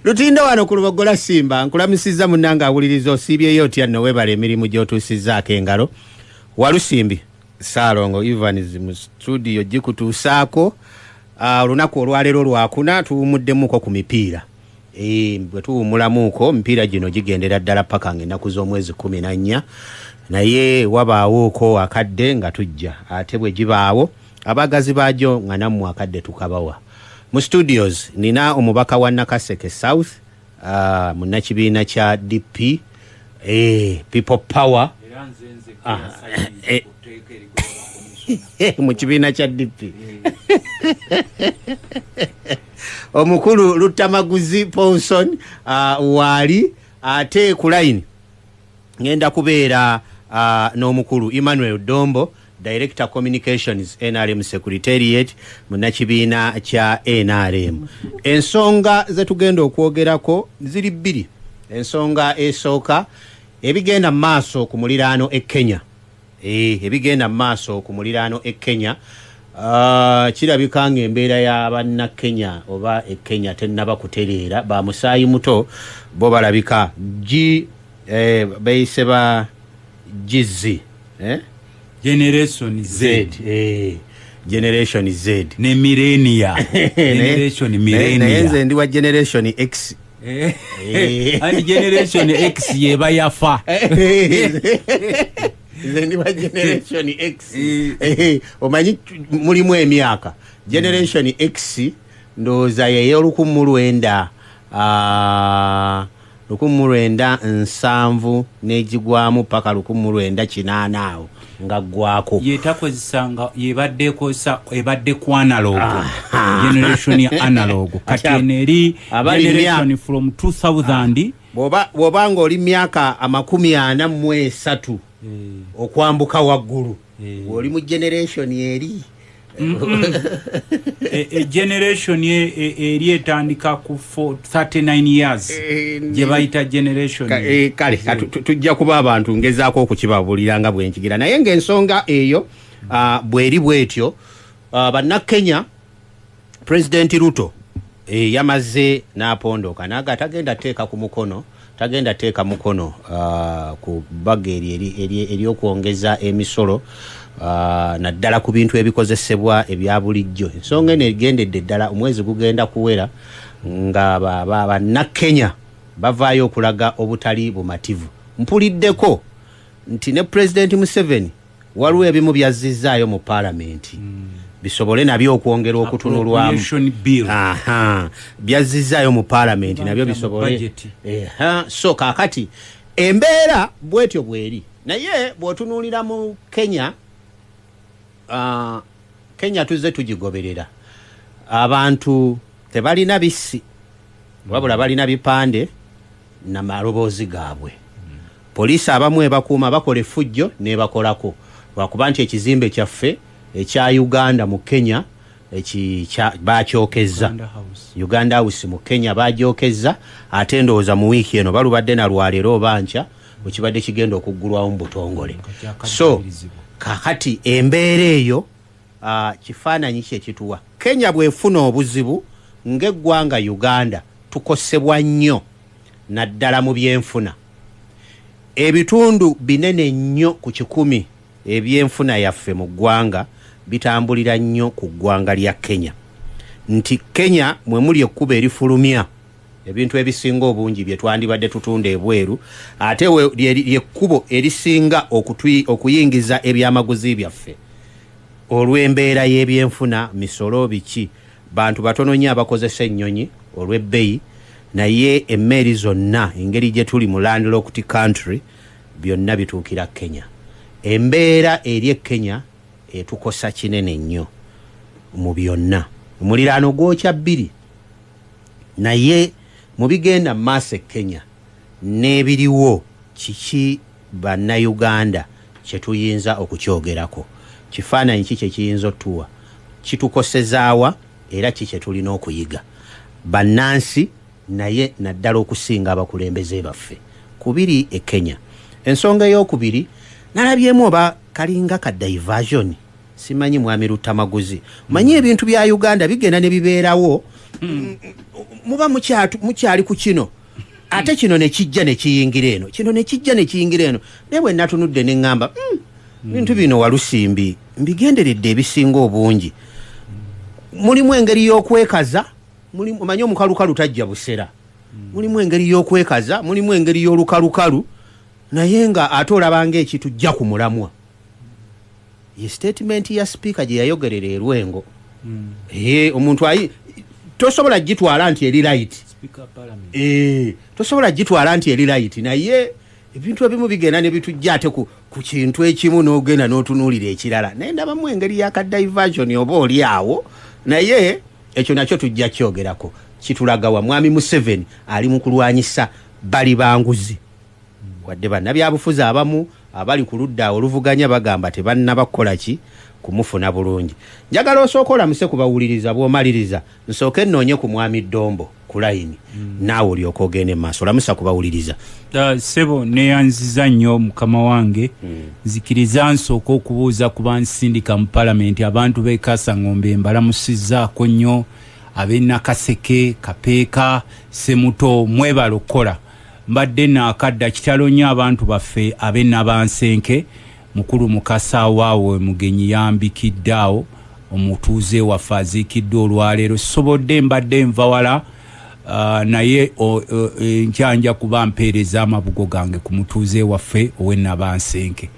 Lutindo wano ku Lubogola Simba nkulamusizza munnange awuliriza osiibyeyo otya nno weebala emirimu gy'otuusizzaako engalo Walusimbi Ssaalongo Evans mu studio gikutuusaako ah, olunaku olwaleero lwakuna tuwumuddemuuko ku mipiira eh, bwe tuwumulamuuko mipiira gino gigendera ddala paka ng'ennaku z'omwezi kumi na nnya naye wabaawooko akadde nga tujja ate bwe gibaawo abaagazi baajo nga nammwe akadde tukabawa mu studios nina omubaka wa nakaseke south uh, munnakibiina kya dp eh, people power ah, eh, mu kibiina kya dp omukulu luttamaguzi ponson uh, waali ate ku layini Ngenda kubeera n'omukulu Emmanuel Dombo, Director Communications, nrm Secretariat, munnakibiina kya nrm. Ensonga ze tugenda okwogerako ziri bbiri. Ensonga esooka, ebigenda mu maaso ku muliraano e Kenya. Eeh ebigenda mu maaso ku muliraano e Kenya Aah kirabika ng'embeera ya banna Kenya oba e Kenya tennaba kutereera, ba musaayi muto bo balabika gi eh, beeyise ba Gizzi eh? Generation Z Z eh, Generation Z ne Millennia Generation Naye- naye Millennia nze ndi wa Generation X Eh. Eh. and generation x yeba yafa nze ndi wa generation x eh. omanyi mulimu emyaka generation mm. x ndowooza yeye olukumu lwenda ah, lukumu lwenda nsanvu n'egigwamu paka lukumu lwenda kinaana awo nga gwako yetakozesa nga yebadde ekozesa ebadde ku analog generation ya analog kati eno eri generation from 2000 ah. bwoba nga oli myaka amakumi ana mu esatu eh. okwambuka waggulu eh. oli mu generation eri E, e generation e, eri etandika ku 39 years eh, gye bayita generation eh, kale tujja kuba abantu ngezaako okukibabulira nga bwenkigira naye ngaensonga eyo ah, bweri bwetyo ah, bannakenya President Ruto eh, yamaze n'apondooka naga tagenda teeka ku mukono tagenda teeka mukono uh, ku bbaga eryokwongeza emisolo uh, naddala ku bintu ebikozesebwa ebya bulijjo ensonga eno egendedde ddala omwezi gugenda kuwera nga bannakenya ba, ba, bavaayo okulaga obutali bumativu mpuliddeko nti ne pulezidenti museveni Waliwo ebimu by'azzizzaayo mu Palamenti bisobole nabyo okwongera okutunulwamu. By'azzizzaayo mu Palamenti nabyo bisobole. So kaakati embeera bwetyo bweri naye bw'otunuulira mu Kenya, ah, Kenya tuzze tugigoberera. Abantu tebalina bissi. wabula balina bipande na maloboozi gaabwe poliisi abamu ebakuuma bakola effujjo nebakolako lwakuba nti ekizimbe kyaffe ekya uganda mu kenya bakyokezza uganda house mu kenya bagyokezza ate ndowooza mu wiiki eno balubadde nalwaleero oba nkya wekibadde kigenda okuggulwawo mu butongole so kakati embeera eyo Ah, kifaananyi kye kituwa. Kenya bwefuna obuzibu ng'eggwanga Uganda tukosebwa nnyo naddala mu byenfuna. Ebitundu binene nnyo ku kikumi ebyenfuna yaffe mu ggwanga bitambulira nnyo ku ggwanga lya Kenya nti Kenya mwe muli ekkubo erifulumya. Ebintu ebisinga obungi bye twandibadde tutunda ebweru ate lye kkubo erisinga okuyingiza ebyamaguzi byaffe olw'embeera y'ebyenfuna, misolo, biki. Bantu batono nnyo abakozesa ennyonyi olw'ebbeyi naye emmeeri zonna engeri gye tuli mu landlocked country byonna bituukira Kenya. Embeera eri e Kenya etukosa kinene nnyo mu byonna. Omuliraano gwokya bbiri. Naye mu bigenda mu maaso e Kenya n'ebiriwo kiki Bannayuganda kye tuyinza okukyogerako? Kifaananyi ki kye kiyinza otuwa? Kitukoseza wa era ki kye tulina okuyiga bannansi naye naddala okusinga abakulembeze baffe? Ku biri e Kenya. Ensonga eyookubiri nalabyemu oba kalinga ka diversion. Simanyi mwami Luttamaguzi. Manyi hmm. ebintu bya Uganda bigenda ne bibeerawo. Hmm. Muba mukyatu mukyali ku kino. Ate hmm. kino ne kijja ne kiyingira eno. Kino ne kijja ne kiyingira eno. Naye bwe natunudde ne ngamba, mm, bintu bino walusimbi mbigenderedde ebisinga obungi. Mulimu engeri y'okwekaza, mulimu manyi omukalukalu tajja busera. Mulimu engeri y'okwekaza, mulimu engeri y'olukalukalu naye nga ate olabanga ekitujja ku mulamwa. Ye statement ya speaker gye yayogerera e Lwengo. Mm. Ee, eh, omuntu ayi, tosobola gitwala nti eri light. Speaker parliament. Ee, eh, tosobola gitwala nti eri light. Na ye, ebintu ebimu bigenda ne bitu jate ku, ku kintu ekimu n'ogenda n'otunulira ekirala. Naye ndaba mu engeri ya ka diversion oba oli awo. Na ye, ekyo nakyo tujja kyogerako. Kitulagawa, mwami Museveni, ali mu kulwanyisa bali banguzi. Wadde bannabyabufuzi abamu abali ku ludda oluvuganya bagamba tebannaba kukola ki kumufuna bulungi, njagala osooke olamuse ku bawuliriza bw'omaliriza nsooke nnoonye ku Mwami Dombo ku layini naawe olyoke ogende mu maaso. Lamusa ku bawuliriza. Ah, ssebo neyanziza nnyo mukama wange hmm. nzikiriza nsooka okubuuza ku bansindika mu palamenti abantu b'e kasangombe mbalamusizzaako nnyo ab'e nakaseke kapeeka semuto mwebala okukola Mbadde nakadda kitalo nyo abantu baffe abe Nabansenke mukulu Mukasa awaawo omugenyi yambikidde awo omutuuze waffe aziikiddwa olwaleero sisobodde mbadde nva wala naye enkya nja kuba mpeereza amabugo gange ku mutuuze waffe owe Nabansenke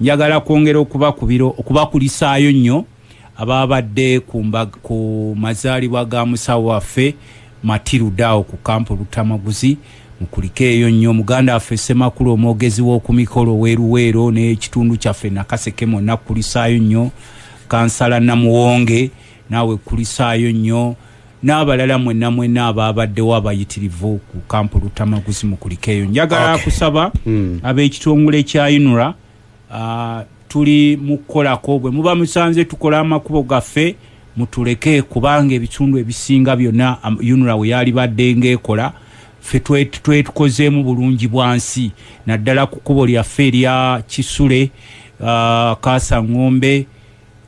njagala kwongera okubakubira okubakulisaayo nyo Abaabadde ku mbag- ku mazaalibwa ga musawo waffe Matilda awo ku kampu Luttamaguzi mukulikeeyo nnyo muganda waffe Ssemakula omwogezi w'oku mikolo ow'e Luweero n'ekitundu kyaffe Nakaseke mwonna kkulisaayo nnyo, Kansala Namuwonge naawe kkulisaayo nnyo n'abalala mwenna mwenna abaabaddewo abayitirivu ku kampu Luttamaguzi mukulikeeyo. Njagala Okay. kusaba ab'ekitongole kya UNRA Ah, tuli mukukolako bwe muba musanze tukola amakubo gaffe mutuleke kubanga ebitundu ebisinga byonna unra we yalibadde ngaekola fe twetukozeemu bulungi bwansi naddala ku kubo lyaffe erya kisule ah, kaasa ngombe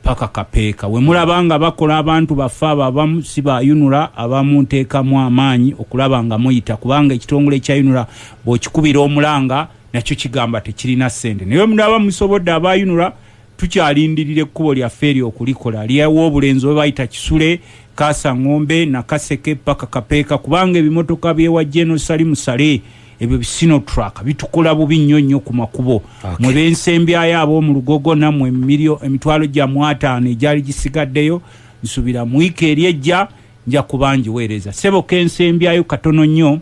Paka kapeeka wemulaba nga bakola abantu baffe abo abamu si ba UNRA abamu nteekamu amaanyi okulaba nga muyita kubanga ekitongole kya UNRA bwokikubira omulanga nakyo kigamba tekirina ssente naye wemulaba musobodde aba UNRA tukyalindirira ekkubo lyaffe eryo okulikola lyewa obulenzi oba bayita Kisule Kaasa Ngombe Nakaseke paka kapeeka kubanga ebimotoka byewa General Salimu Saleh ebyo bisinotruck bitukola bubi nnyo nnyo ku makubo okay. mwe bensembyayo ab'omu lugogo nammwe emiriyo emitwalo gya mwataano egyali gisigaddeyo nsubira mu wiiki eri ejja nja kuba njiweereza sebo kensembyayo katono nnyo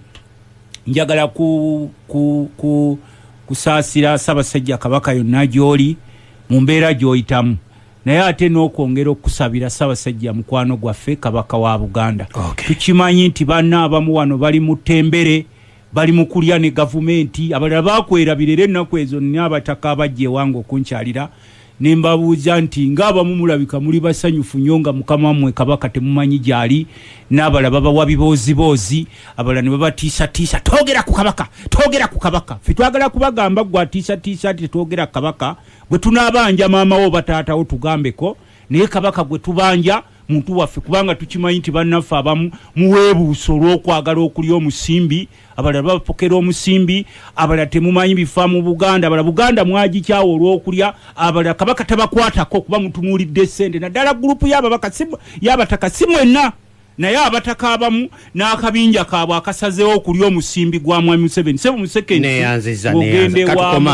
njagala ku, ku, ku, kusaasira ssabasajja kabaka yonna gy'oli mu mbeera gy'oyitamu naye ate n'okwongera okusabira Ssabasajja mukwano gwaffe Kabaka wa Buganda okay. tukimanyi nti banna abamu wano bali mu ttembere bali mu kulya ne gavumenti abalala bakwerabira era ennaku ezo nina abataka abajja ewange okunkyalira ne mbabuuza nti ng'abamu mulabika muli basanyufu nnyo nga mukama mmwe kabaka temumanyi gyali n'abala babawa bibooziboozi abala ne babatiisatiisa twogera ku kabaka twogera ku kabaka fe twagala kubagamba gwe atiisatiisa nti tetwogera ku kabaka Gwe tunaabanja maama wo oba taata wo tugambeko naye kabaka gwe tubanja muntu waffe kubanga tukimanyi nti bannaffe abamu muweebuusa olw'okwagala okulya omusimbi abalala bapokera omusimbi abalala temumanyi bifa mu buganda abala buganda mwagikyawo olw'okulya abalala kabaka tabakwatako kuba mutunuulidde ssente naddala gurupu yabataka si mwenna Naye abataka abamu n'akabinja kaabwe akasazeewo okulya omusimbi gwa Mwami Museveni sebo mu seconds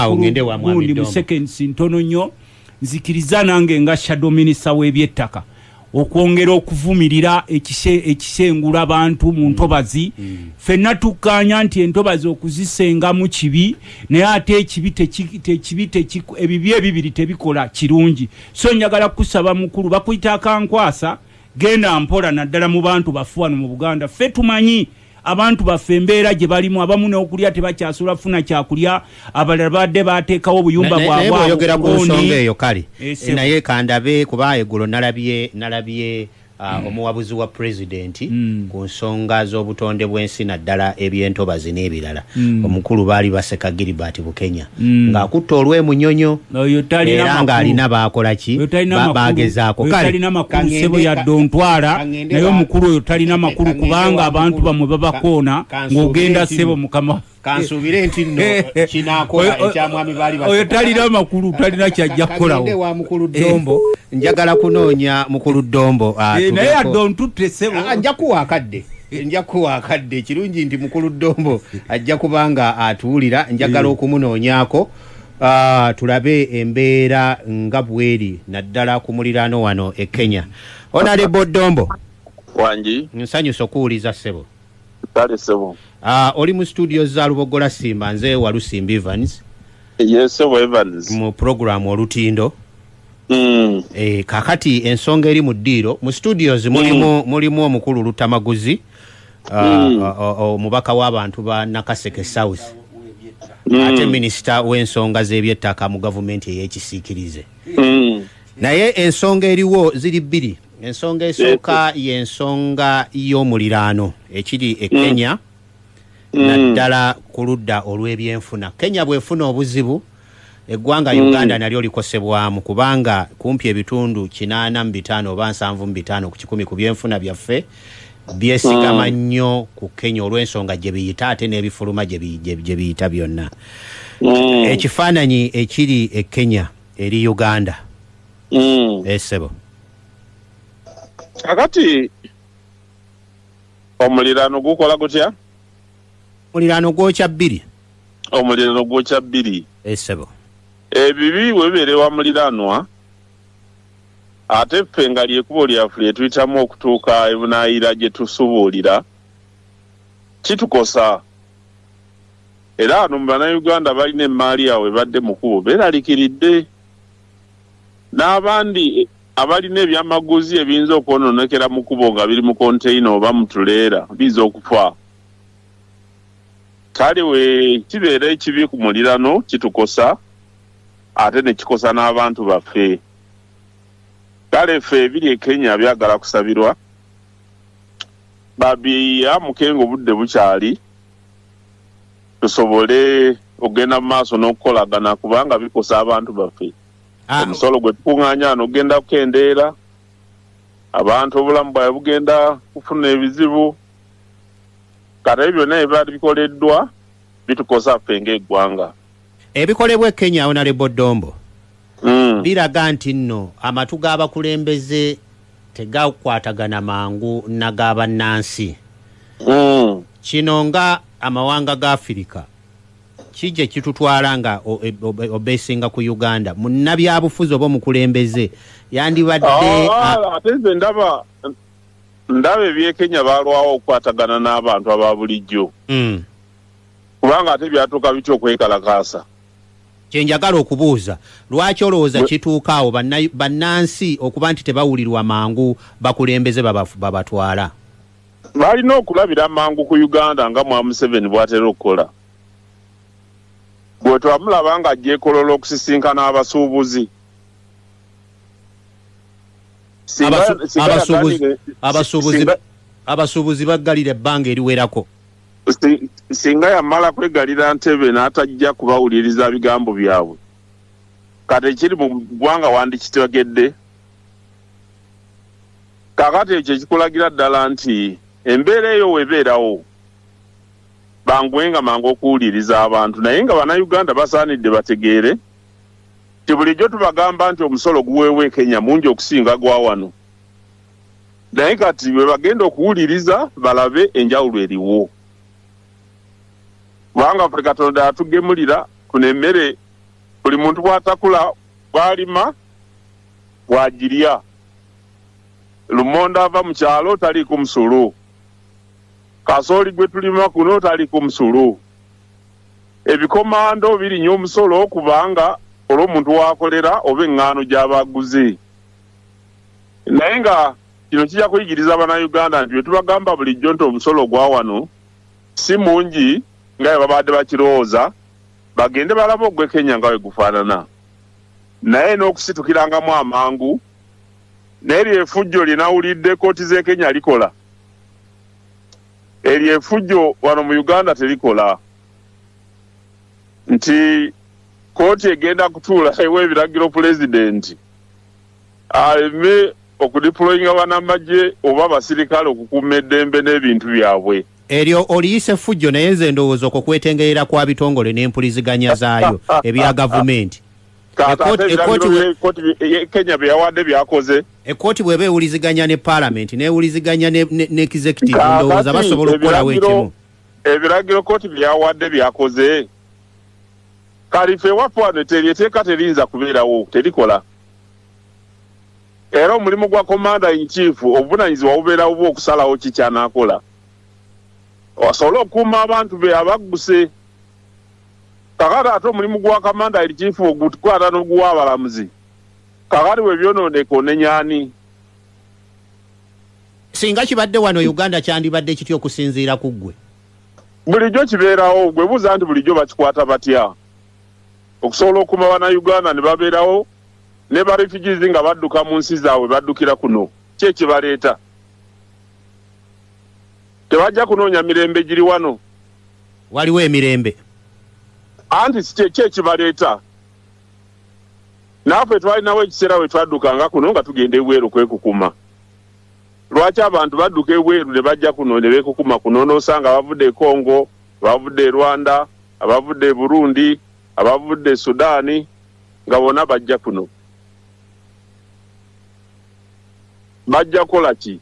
ogende wa gundi mu seconds ntono nnyo nzikiriza nange nga shadow minister w'ebyettaka okwongera okuvumirira ekisengula abantu mu ntobazi mm. mm. fenna tukkaanya nti entobazi okuzisengamu kibi naye ate ekibi tekibi ebibi ebibiri tebikola kirungi so njagala kukusaba mukulu bakuyita akankwasa Genda mpola naddala mu bantu baffe wano mu Buganda. Ffe tumanyi abantu baffe embeera gye balimu, abamu n'okulya tebakyasobola kufuna kyakulya, abalala babadde baateekawo obuyumba bwabwe awo oyogera ku nsonga eyo kale eh, eh, naye kandabe kuba eggulo nalabye nalabye ah, hmm. omuwabuzi wa pulezidenti hmm. ku nsonga z'obutonde bw'ensi naddala ebyentobazi n'ebirala hmm. omukulu baali baseka gilibert bukenya mm. ng'akutte olw'emunyonyo era ng'alina baakola ki bagezaako talina makulu sebo yadde ontwala naye omukulu oyo talina makulu kubanga abantu bamwe babakoona ng'ogenda sebo mukama kansuubire nti nno eh, eh. kinakola ekyamwami baali oyo talina makulu talina kyajja kukolawo wa mukulu eh. ddombo njagala kunoonya mukulu ddombo ah, naye yadde ontutte sebo ah, nja kuwa akadde nja kuwa akadde ekirungi nti mukulu ddombo ajja kubanga atuwulira njagala eh. okumunoonyaako ah, tulabe embeera nga bweri naddala ku muliraano wano e kenya onalebo ddombo wangi nsanyusa okuwuliza ssebo kale ssebo ah, oli mu situdio za lubogola simba nze walusimba evans yesebo evans mu puroguramu olutindo Mm. E, kakati ensonga eri mu ddiiro mu studios mulimu, mm. mulimu omukulu lutamaguzi uh, mm. uh, uh, uh, omubaka w'abantu ba nakaseke south mm. ate minisita w'ensonga z'ebyettaka mu gavumenti ey'ekisiikirize mm. naye ensonga eriwo ziri bbiri ensonga esooka y'ensonga y'omuliraano ekiri e mm. kenya mm. naddala ku ludda olw'ebyenfuna kenya bw'efuna obuzibu Eggwanga mm. Uganda mm. nalyo likosebwamu kubanga kumpi ebitundu kinaana mu bitaano oba nsanvu mu bitaano ku kikumi ku byenfuna byaffe byesigama mm. nnyo mm. ku Kenya olw'ensonga gye biyita ate n'ebifuluma gye biyita byonna mm. ekifaananyi ekiri e Kenya eri Uganda mm. esebo eh, kakati omuliraano gukola gutya Omuliraano gwokya bbiri. Omuliraano gwokya bbiri. Eh, ssebo. Ebibi eh, bwe bibeera ewa muliraanwa, ate ffe nga lyekubo lyaffe lye tuyitamu okutuuka ebunaayira gye tusubuulira, kitukosa. Era ano mu Bannayuganda balina emmaali yaabwe badde mu kubo beeralikiridde. N'abandi eh, abalina ebyamaguzi ebiyinza okwonoonekera mu kubo nga biri mu konteyina oba mu tuleera biyinza okufa. kale we kibeera ekibi ku mulirano kitukosa ate ne kikosa n'abantu baffe kale ffe ebiri e kenya byagala kusabirwa babiya mukenga obudde bukyali tusobole okugenda mu maaso n'okukolagana kubanga bikosa abantu baffe ah. omusolo gwe tukuŋŋaanya wano ogenda kukendeera abantu obulamu bwawe bugenda kufuna ebizibu kati ebyo byonna ebibaali bikoleddwa bitukosa ffe ng'eggwanga. Ebikolebwa e Kenya, Honalebo Ddombo, mm. biraga nti nno amatu g'abakulembeze tegakwatagana mangu naga bannansi. Mm. Kino nga amawanga ga Afirika kije kitutwala nga e, obesinga ku Uganda munnabyabufuzi oba omukulembeze yandibadde ah, ah, ate nze ndaba ndaba ebyekenya balwawo okukwatagana n'abantu aba bulijjo mm. kubanga ate byatuuka bitya okwekalakaasa kyenjagala okubuuza lwaki olowooza kituuka awo bannansi okuba nti tebawulirwa mangu bakulembeze babatwala balina okulabira mangu ku uganda nga mwamuseveni bwatera okukola gwe twamulaba nga ajja ekolola okusisinkana abasuubuzi abasuubuzi baggalira ebbanga eriwerako singa yamala kwegalira ntebe n'atajja kubawuliriza bigambo byabwe kati ekiri mu ggwanga wandikitegedde kakati ekyo ekikulagira ddala nti embeera eyo webeerawo bangwenga mangu okuwuliriza abantu naye nga bannayuganda basaanidde bategeere nti bulijjo tubagamba nti omusolo guweebwa e Kenya mungi okusinga gwa wano naye kati bwe bagenda okuwuliriza balabe enjawulo eriwo kubanga ffe Katonda yatugemulira kuno emmere buli muntu bw'atakula bw'alima bw'agirya lumonde ava mu kyalo taliiko musolo kasooli gwe tulima kuno taliiko musolo Ebikomando birinya omusolo kubanga olw'omuntu w'akolera oba eŋŋaano gy'aba aguze. Naye nga kino kijja kuyigiriza Bannayuganda nti bye tubagamba bulijjo nti omusolo ogwa wano si mungi nga bwe babadde bakirowooza, bagende balabe ogw'e Kenya nga bwe gufaanana. Naye n'okusitukirangamu amangu n'eryo efujjo lye nawulidde ekkooti z'e Kenya likola, eryo efujjo wano mu Uganda terikola. nti kooti egenda kutuula ewa ebiragiro pulezidenti aleme okudiployinga banamagye oba abasirikale okukuuma eddembe n'ebintu byabwe. Eryo oliyisa effujjo naye nze ndowooza okwo kwetengerera kwa bitongole n'empuliziganya zaayo ebya gavumenti. Kenya bye yawadde byakoze. Ekkooti bw'eba ewuliziganya ne palamenti n'ewuliziganya ne executive ndowooza basobola okukolawo ekimu. Ebiragiro kkooti bye yawadde byakoze? Kalifa ewaffe wano eteri eteeka teriyinza kubeerawo, terikola. Era omulimu gwa Commander in Chief obuvunanyizibwa bubeera bubwe okusalawo ki kyanaakola asobole okukuuma abantu be abagguse. Kakati ate omulimu gwa Commander in Chief ogukwata n'oguwa abalamuzi kakati bwe byonooneka onenya ani? singa kibadde wano e uganda kyandibadde kitya okusinziira ku ggwe bulijjo kibeerawo gwe buuza nti bulijjo bakikwata batya okusobola okuma banauganda ne babeerawo ne ba refugees nga badduka mu nsi zaabwe baddukira kuno ki ekibaleeta tebajja kunoonya mirembe giri wano waliwo emirembe anti ki ekibaleeta naafe twalinawo ekiseera we twaddukanga kuno nga tugenda ebweru kwekukuma lwaki abantu badduka ebweru ne bajja kuno ne beekukuma kuno n'osanga abavudde e congo abavudde e rwanda abavudde e burundi abavudde e sudaani nga bona bajja kuno bajja kukola ki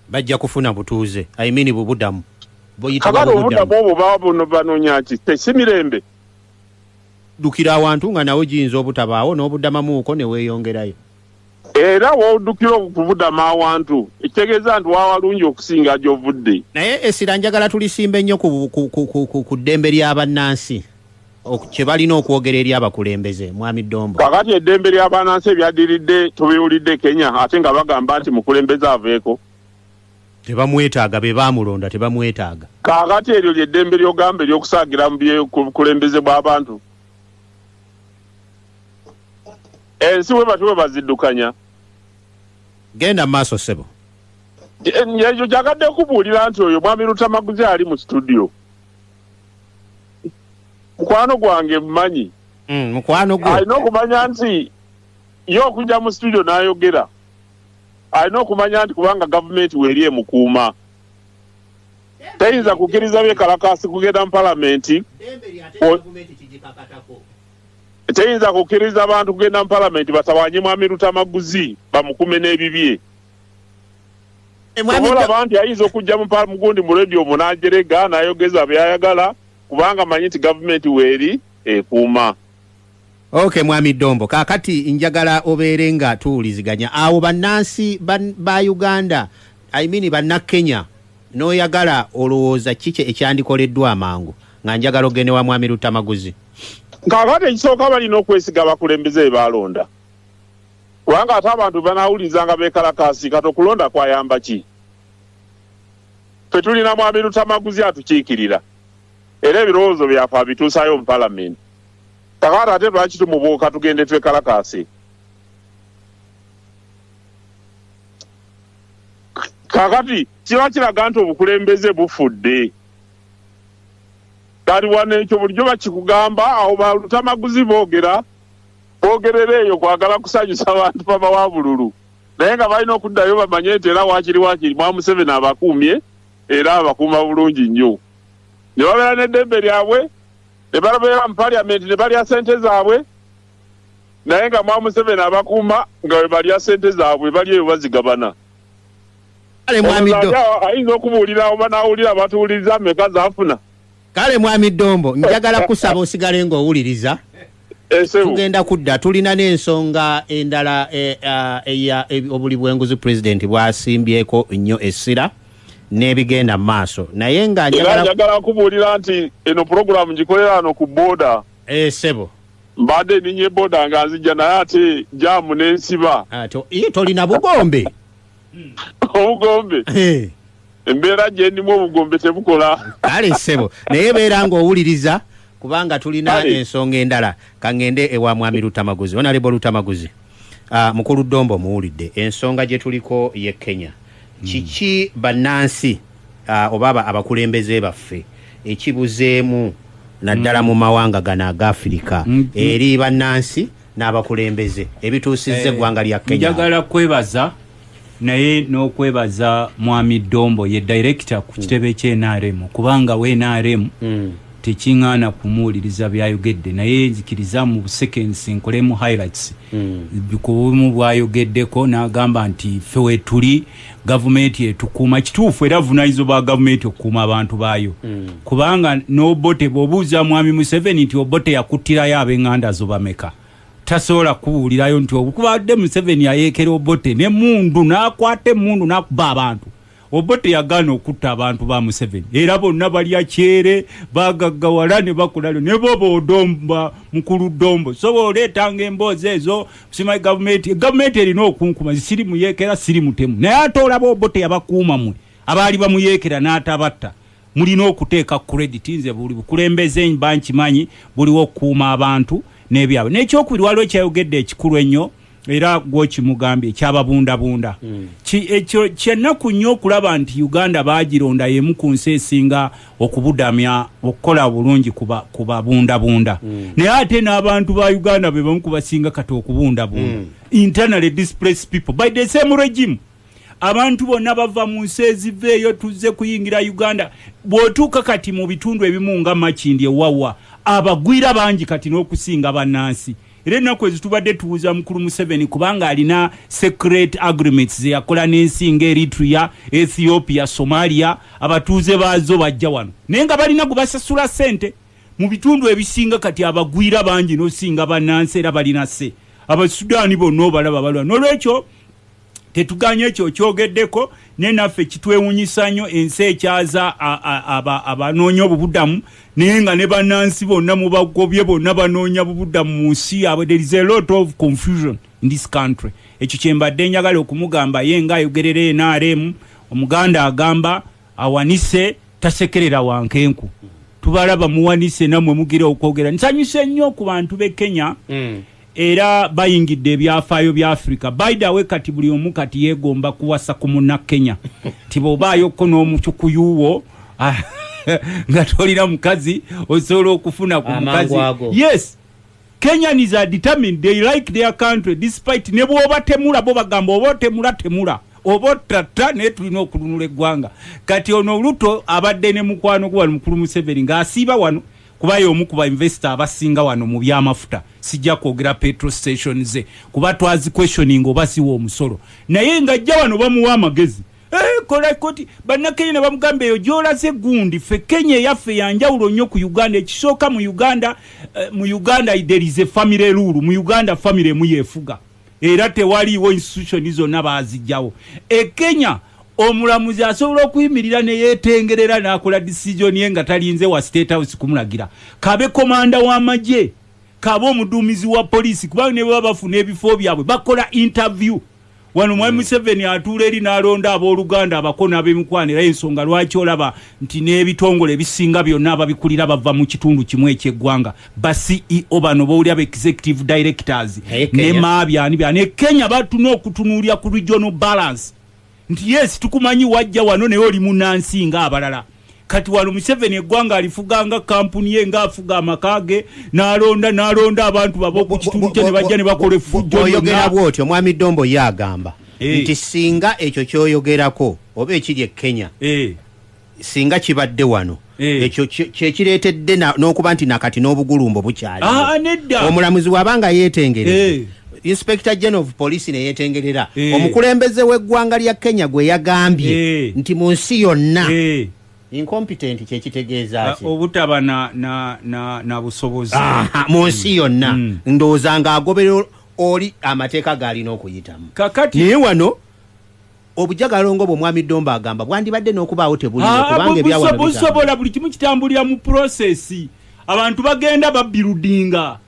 bajja kufuna butuuze i mean bubudamu buyitibwa bubudamu obwo baba bano banonya ki si mirembe Ddukira awantu nga nawo giyinza obutabaawo n'obudamamuuko ne weeyongerayo. Era w'odukira okubudama awantu ekitegeeza nti wa walungi okusinga gy'ovudde. Naye essira njagala tulisimbe nnyo ku ddembe lya bannansi kye balina okwogera eri abakulembeze. Mwami Ddombo. Kaakati eddembe lya bannansi ebyaddiridde tubiwulidde e Kenya ate nga bagamba nti mukulembeze aveeko. Tebamwetaaga, be baamulonda tebamwetaaga. Kaakati eryo lye ddembe ly'ogamba ery'okusaagira mu bye, ku bukulembeze bw'abantu? Ensi bwe batyo bwe baziddukanya. Genda mu maaso, ssebo. Ekyo kyagadde kubuulira nti oyo Mwami Luttamaguzi ali mu situdiyo. Mukwano gwange mmanyi. Mm, mukwano gwo. Alina okumanya nti ye okujja mu situdiyo n'ayogera. alina okumanya nti kubanga gavumenti weeri emukuuma tayinza kukkiriza byekalakaasi kugenda mu palamenti teyinza kukkiriza bantu kugenda mu palamenti batawanye mwami lutamaguzi bamukume n'ebibye olaba nti ayinza okujja mugundi mu radio omu n'ajerega n'ayogeza byayagala kubanga manyi nti gavumenti weeri ekuuma Ok mwami Dombo kakati njagala obeere nga tuwuliziganya awo bannansi ba Uganda I mean banna Kenya n'oyagala olowooza kiki ekyandikoleddwa amangu nga njagala ogende wa mwami Luttamaguzi. Kakati ekisooka balina okwesiga abakulembeze be baalonda kubanga ate abantu banaawuliriza nga beekalakaasi kati okulonda kwayamba ki? Ffe tulina mwami Luttamaguzi atukiikirira era ebirowoozo byaffe abituusaayo mu palamenti. Kakati ate lwaki tumubuuka tugende twekalakaase? Kakati kiba kiraga nti obukulembeze bufudde. Kati wano ekyo bulijjo bakikugamba awo balutamaguzi boogera boogerera eyo kwagala kusanyusa bantu baba wa bululu naye nga balina okuddayo bamanye nti era wakiri wakiri mwa Museveni abakuumye era abakuuma bulungi nnyo ne babeera n'eddembe lyabwe ne babeera mu parliament ne balya sente zaabwe naye nga mwa museveni abakuuma nga we balya sente zaabwe bali eyo bazigabana kale mwami do ayinza okubuulira oba n'awulira abatuwuliriza meka zaafuna kale mwami dombo njagala kusaba osigale ng'owuliriza eh, tugenda kudda tulina n'ensonga endala eh, eh, eya obuli bw'enguzi pulezidenti bwasimbyeko nnyo essira n'ebigenda mu maaso naye nga era njagala kubuulira nti eno pulogulaamu ngikolera wano ku booda eh, ssebo mbadde ninye booda nga nzija naye ate jaamu n'ensiba ah, ye tolina bugombe obugombe eh. embeera gye ndimu obugombe tebukola kale ssebo naye beera ng'owuliriza kubanga tulina ensonga endala kaŋŋende ewa mwami lutamaguzi onalebo lutamaguzi Ah, mukulu Dombo muwulidde ensonga gye tuliko ye Kenya. Hmm. Kiki bannansi ah, oba abakulembeze baffe ekibuzeemu naddala hmm. mu mawanga gano aga Afirika hmm. eri bannansi n'abakulembeze ebituusizza eh, eggwanga lya Kenya? Njagala kwebaza. naye n'okwebaza mwami Dombo ye director ku kitebe kye NRM kubanga we NRM mm. tekingana kumuwuliriza byayogedde naye nzikiriza mu seconds nkolemu highlights mm. ku bumu bwayogeddeko n'agamba nti ffe wetuli gavumenti etukuuma kituufu era vunayizo bwa gavumenti okukuuma abantu baayo mm. kubanga n'obote bw'obuuza mwami museveni nti obote yakuttirayo ab'enganda zo bameka tasobola kubuulirayo nti okubadde museveni yayeekera obote ne mundu n'akwata emundu n'akuba abantu obote yagaana okutta abantu ba museveni era bonna balya kyere bagaggawala ne bakulalo ne boba odomba mukulu ddombo so booleetanga emboozi ezo sima gavumenti gavumenti erina okunkuma zisiri muyeekera siri mutemu naye ate olaba obote yabakuuma mwe abaali bamuyeekera n'atabatta Mulina okuteeka credit nze buli bukulembeze mba nkimanyi buliwo okukuuma abantu nebyabwe nekyokubiri waliwo kyayogedde ekikulu ennyo era gwokimugambye kyababundabunda mm. ekyo kyenaku nnyo okulaba nti uganda bagironda yemu ku nsi esinga okubudamya okukola obulungi kubabundabunda mm. naye ate n'abantu ba uganda bebamu kubasinga kati okubundabunda mm. internally displace people by the same regime Abantu bonna bava mu nsi eziva eyo tuzze kuyingira Uganda. Bw'otuuka kati mu bitundu ebimu nga Makindye Wawa, abagwira bangi kati n'okusinga bannansi. Era ennaku ezo tubadde tubuuza mukulu Museveni kubanga alina secret agreements ze yakola n'ensi nga Eritrea, Ethiopia, Somalia, abatuuze baazo bajja wano naye nga balina gwe basasula ssente. Mu bitundu ebisinga kati abagwira bangi n'osinga bannansi era balina se. Abasudaani bonna obalaba balwana. N'olwekyo. Tetuganye ekyo okyogeddeko naye naffe kitwewunyisa nnyo ensi ekyaza abanoonya obubudamu naye nga ne bannansi bonna mubagobye bonna banoonya bubudamu mu nsi yaabwe there is a lot of confusion in this country ekyo kyembadde njagala okumugamba ye nga ayogerera nrm omuganda agamba awanise tasekerera wankenku tubalaba muwanise namwe mugira okwogera nsanyuse nnyo ku bantu be kenya mm. era bayingidde ebyafaayo bya africa baidawe kati buli omu kati yegomba kuwasa ku muna kenya nti bwobaayoko n'omucukuyuwo ah, nga tolina mukazi osobola okufuna ku mukazi yes Kenyans are determined they like their country despite nebwobatemula bo bagamba oba otemula temula oba ottatta naye tulina okulunula eggwanga kati ono luto abadde ne mukwano gwe wano mukulu museveni ng'asiiba wano kuba y'omu ku bainvesita abasinga wano mu byamafuta sijja kwogera petro station ze kuba twaziquestioning oba ziwa omusolo naye ng'ajja wano bamuwa amagezi Eh, kola koti bannakenya ne bamugamba eyo gyolaze gundi ffe kenya eyaffe yanjawulo nnyo ku uganda ekisooka mu uganda eh, mu uganda there is a family rule mu uganda family emu yefuga era tewaliiwo institution zonna baazijjawo e kenya omulamuzi asobola okuyimirira neyetengerera n'akola decision ye nga talinze wa state house kumulagira kabe komanda w'amagye kabe omuduumizi wa poliisi kubanga ne bwe baba bafuna ebifo byabwe bakola interview wano mwami museveni atuula eri n'alonda abooluganda abako n'abemikwano era ensonga lwaki olaba nti n'ebitongole ebisinga byonna ababikulira bava mu kitundu kimu ekyeggwanga ba ceo bano bowuli aba executive directors ne maabyani byani e kenya batuna okutunuulira ku regional balance nti yes tukumanyi wajja wano naye oli munansi nga abalala kati wano museveni eggwanga alifuga nga kampuni ye nga afuga amaka ge n'alonda n'alonda abantu baba oku kitundu kye ne bajja ne bakola effujjoyogera bwotyo mwami dombo ye agamba eh. nti singa ekyo kyoyogerako oba ekiri e kenya eh. singa kibadde wano eh. ekyo kyekireetedde n'okuba nti nakati n'obugulumbo bukyali ah, omulamuzi waba nga yeetengere Inspector General of Police ne yetengerera eh. omukulembeze w'eggwanga lya Kenya gwe yagambye eh. nti mu nsi yonna eh. incompetent kye kitegeeza ah, ki obutaba na na na, na busobozi mu nsi mm. yonna mm. ndowooza nga agoberera oli amateeka gaalina okuyitamu kakati naye wano obujagalongo bwo mwami Domba agamba bwandibadde n'okubaawo tebuli ah, kubanga ebyawa busobola buli kimu kitambulira mu process abantu bagenda babbirudinga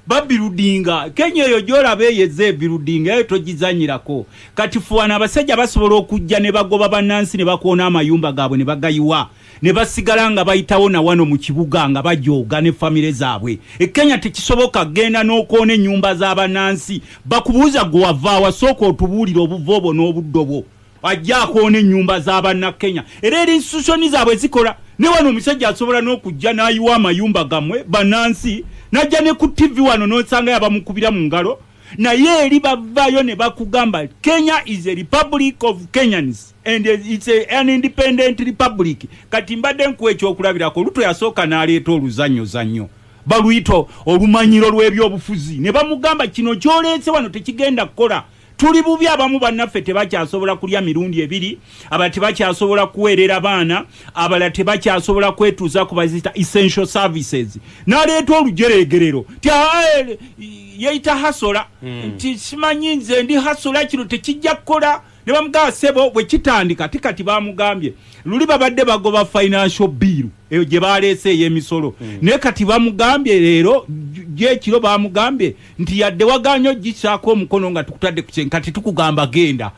Babiludinga kenya eyo gyolaba eyo eza ebiludinga eyo togizanyirako kati fe wano abasajja basobola okujja nebagoba banansi nebakoona amayumba gabwe nebagayiwa nebasigala nga bayitawo nawano mukibuga nga bajooga ne family zabwe e kenya tekisoboka genda nokoona enyumba zabanansi bakubuuza gwe wavaawa sooka otubuulire obuvo bwo nobuddo bwo Ajja akoona ennyumba za Bannakenya era era institution zaabwe zikola. Ne wano omusajja asobola n'okujja n'ayiwa amayumba gammwe bannansi n'ajja ne ku ttivvi wano n'osangayo abamukubira mu ngalo naye eri bavaayo ne bakugamba Kenya is a republic of Kenyans and it's a, an independent republic. Kati mbadde nkuwa ekyokulabirako Ruto yasooka n'aleeta oluzannyozannyo baluyita olumanyiro lw'ebyobufuzi ne bamugamba kino ky'oleese wano tekigenda kukola. Tuli bubi abamu bannaffe tebakyasobola kulya mirundi ebiri, abalala tebakyasobola kuweerera baana, abalala tebakyasobola kwetuuza ku baziyita essential services. Naleeta olujereegerero nti haa eh, yeeyita Hasola hmm. nti simanyi nze ndi Hasola kino tekijja kukola ne bamugamba sebo bwe kitandika ti kati bamugambye luli babadde bagoba financial bill eyo gye baleese ey'emisolo hmm. naye kati bamugambye leero gyekiro bamugambye nti yadde waganye ogisaako omukono nga tukutadde ku kyenka tetukugamba genda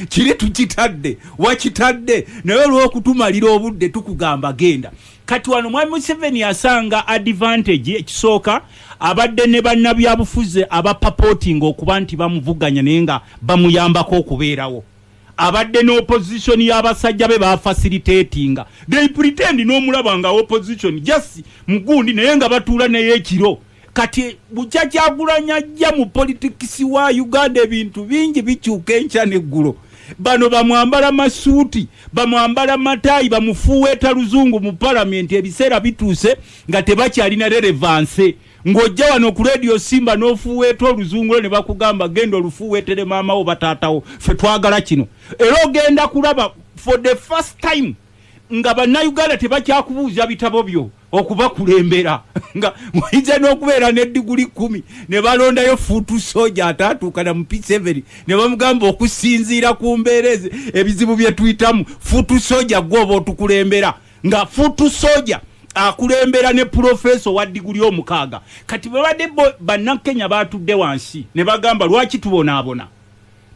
kiri tukitadde wakitadde naye olwokutumalira obudde tukugamba genda kati wano mwami museveni asanga advantage ekisooka abadde ne bannabyabufuzi abapapotinga okuba nti bamuvuganya naye nga bamuyambako okubeerawo abadde ne opposition y'abasajja be bafacilitatinga they pretend n'omulaba nga opposition just mugundi naye nga batuula naye ekiro Kati bukya kyagulanyi ajja mu politikisi wa Uganda ebintu bingi bikyuka enkya neggulo. Bano bamwambala masuuti, bamwambala mataayi, bamufuuweeta luzungu mu palamenti ebiseera bituuse nga tebakyalina relevanse. Ng'ojja wano ku leediyo Simba n'ofuuweeta oluzungu lwo ne bakugamba genda olufuuweetere maama wo oba taata wo, ffe twagala kino. Era ogenda kulaba for the first time nga bannayuganda tebakyakubuuza bitabo byo. okubakulembera nga muyize n'okubeera ne diguli kumi ne balondayo fuutu soja ataatuukana mu piseveni ne bamugamba okusinziira ku mbeera eze ebizibu bye tuyitamu fuutu soja gwoba otukulembera nga fuutu soja akulembera ne pulofeesa owa diguli omukaaga kati babadde bannakenya baatudde wansi ne bagamba lwaki tubonaabona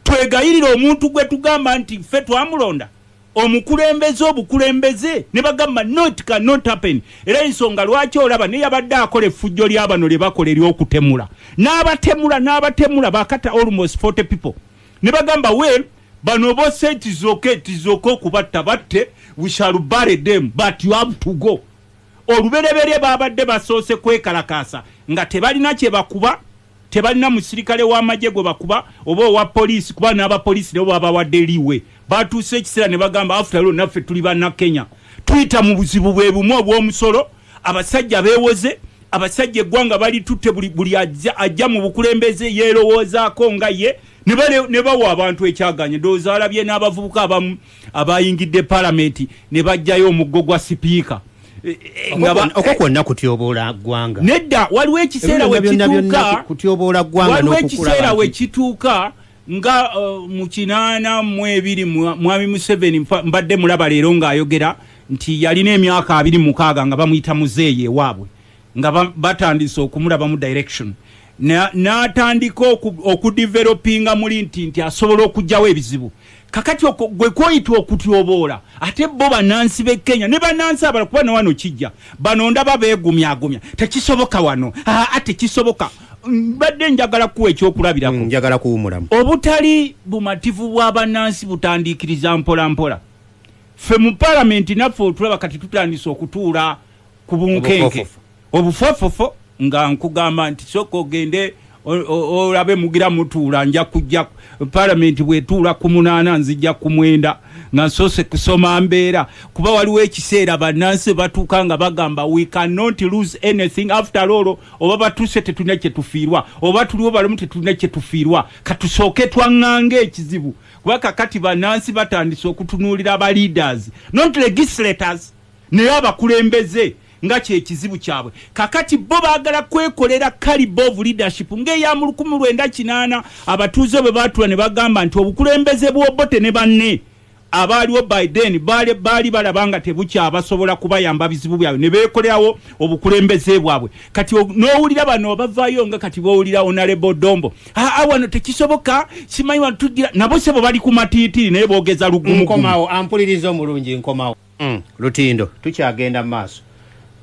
twegayirira omuntu gwe tugamba nti ffe twamulonda Omukulembeze obukulembeze ne bagamba no it can not happen era yensonga lwaki olaba neyabadde akola effujjo lyabano lyebakola eryokutemula nabatemula nabatemula bakata almost 40 people ne bagamba well bano bossa it is ok it is ok okubatta batte we shall bury them but you have to go olubereberye babadde basoose kwekalakaasa nga tebalina kyebakuba Tebalina musirikale wa magye gwe bakuba oba owa poliisi kuba n'aba poliisi nabo babawadde leeway. Batuusa ekiseera ne bagamba after all naffe tuli Bannakenya. Tuyita mu buzibu bwe bumu obw'omusolo, abasajja beewoze, abasajja eggwanga balitutte buli buli ajja ajja mu bukulembeze yeerowoozaako nga ye ne bawa abantu ekyagaanya. Ndowooza walabye n'abavubuka abamu. abayingidde palamenti ne bajjayo omuggo gwa sipiika e, e, okwo e, kwonna kutyoboola ggwanga nedda waliwo ekiseera wekituukawaliwo ekiseera wekituuka nga uh, mu kinaana mu ebiri mwami museveni mbadde mulaba leero ng'ayogera nti yalina emyaka abiri mukaaga nga bamuyita muzeeyi ewaabwe nga batandise okumulabamu direction n'atandika okudivelopinga muli nti nti asobola okugyawo ebizibu kakati gwe kwoyita okutyoboola ate bo banansi be kenya ne banansi abala kuba newano kijja bano ndaba begumyagumya tekisoboka wano aa tekisoboka mbadde njagala kuwa ekyokulabirako mm, njagala kuwumulamu obutali bumativu bwa banansi butandiikiriza mpolampola ffe mu palamenti naffe otulaba kati tutandise okutuula ku bunkenke obufofofo nga nkugamba nti soka ogende olabe mugira mutuula nja kujja palamenti bwetuula ku munaana nzija ku mwenda nga nsoose kusoma mbeera kuba waliwo ekiseera bannansi batuuka nga bagamba we cannot lose anything after all oba batuuse tetulina kyetufiirwa oba tuliwo balamu tetulina kyetufiirwa katusooke twaŋŋanga ekizibu kuba kakati bannansi batandise okutunuulira aba leaders not legislators Naye abakulembeze nga kyekizibu kyabwe kakati bo bagala kwekolera calibre of leadership nga eya mu lukumi lwenda kinaana abatuuze bwe baatula ne bagamba nti obukulembeze bw'Obote ne banne abaaliwo by then baali baali balaba nga tebukyabasobola kubayamba bizibu byabwe ne beekolerawo obukulembeze bwabwe kati o- n'owulira bano abavaayo nga kati b'owulira onalebo dombo aa wano tekisoboka simanyi wano tugira nabo sebo bali ku matiitiri naye boogeza lugumu nkomawo ampuliriza omulungi nkomawo Mm, lutindo tukyagenda mu maaso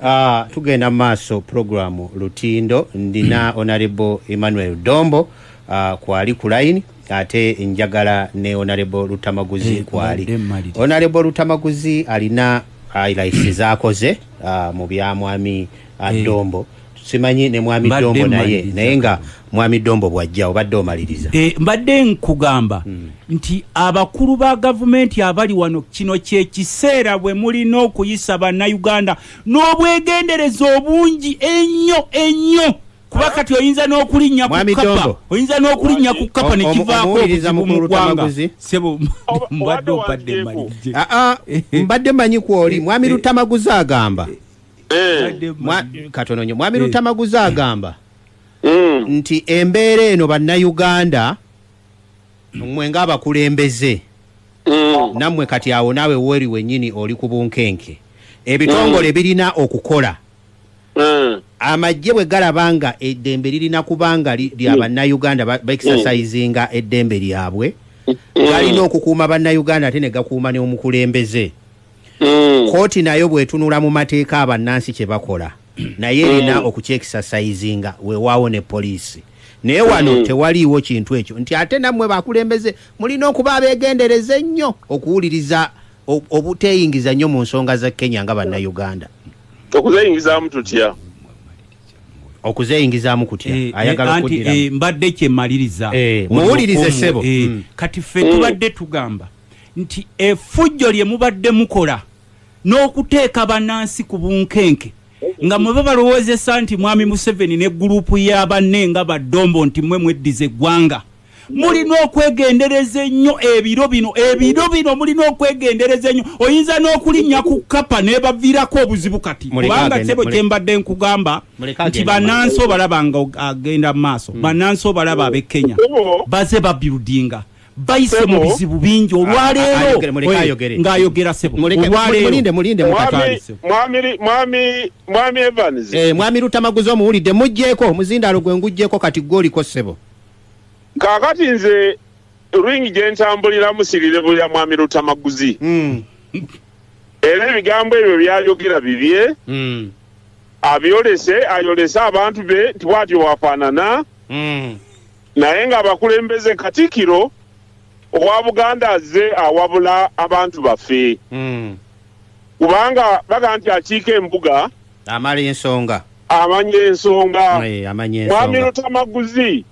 uh, tugenda mu maaso puroguramu lutindo ndina onarebo emmanuel dombo uh, ah, kwali ku layini ate njagala ne onarebo lutamaguzi hey, eh, kwali onarebo lutamaguzi alina highlights zakoze uh, mu byamwami uh, hey. dombo simanyi ne mwami Mbadde dombo naye mmaliriza. naye nga mwami dombo bwajja obadde omaliriza Eh, mbadde nkugamba Hmm. nti abakulu ba gavumenti abali wano kino kyekiseera bwe mulina okuyisa bannayuganda n'obwegendereza obungi ennyo ennyo kuba kati oyinza n'okulinnya ku Mwami kapa Dombo. oyinza n'okulinnya ku kapa ne Omu- kivaako omuwuliriza obuzibu mu mukulu ggwanga Tamaguzi. sebo mbadde obadde mmaliriza Ah, ah, mbadde manyi kwoli mwami lutamaguzi agamba Eh. Mwa- katono nyo mwami lutamaguzi agamba Mm. nti embeera eno bannayuganda mwe ng'abakulembeze Mm. nammwe kati awo naawe weri wennyini oli ku bunkenke ebitongole birina okukola Mm. amagye bwe galaba nga eddembe lirina kuba nga li- lya bannayuganda ba- baexercisinga eddembe lyabwe galina okukuuma bannayuganda ate ne gakuuma n'omukulembeze mm. kooti nayo bwetunula mu mateeka abannansi kye bakola naye erina mm. okukyekisasayizinga wewaawo ne poliisi naye wano mm. tewaliiwo kintu ekyo nti ate nammwe bakulembeze mulina okuba abeegendereza ennyo okuwuliriza obuteeyingiza nnyo mu nsonga za kenya nga bannayuganda okuzeyingizaamu tutya okuzeyingizaamu kutya eh, eh, ayagala eh, mbadde kyemaliriza muwulirize sebo mm. kati ffe tubadde tugamba nti efujjo lye mubadde mukola n'okuteeka bannansi ku bunkenke nga mwe babalowoozesa nti mwami Museveni ne guluupu ya banne nga baddombo nti mwe mweddiza eggwanga mulina okwegendereza ennyo ebiro bino ebiro bino mulina okwegendereza ennyo oyinza n'okulinnya ku kapa nebaviirako obuzibu kati kubanga sebo kyembadde nkugamba nti banansi obalaba nga agenda mu maaso mm. banansi obalaba ab'e kenya baze babuildinga bayise mu bizibu bingi olwaleero ng'ayogera sebomwami evans eh, mwami lutamaguzi omuwulidde mugjeeko omuzindaalo gwe ngugjeeko kati gwe oliko sebo kaakati nze ring gye ntambulira musirire bulya mwami lutamaguzi hmm. era ebigambo ebyo byayogera bibye hmm. abyolese ayolese abantu be nti bwatyo wafaanana hmm. Naye nga abakulembeze katikiro owa Buganda azze awabula abantu baffe hmm. kubanga baga nti akiika embuga amala ensonga amanya ensonga mwami lutamaguzi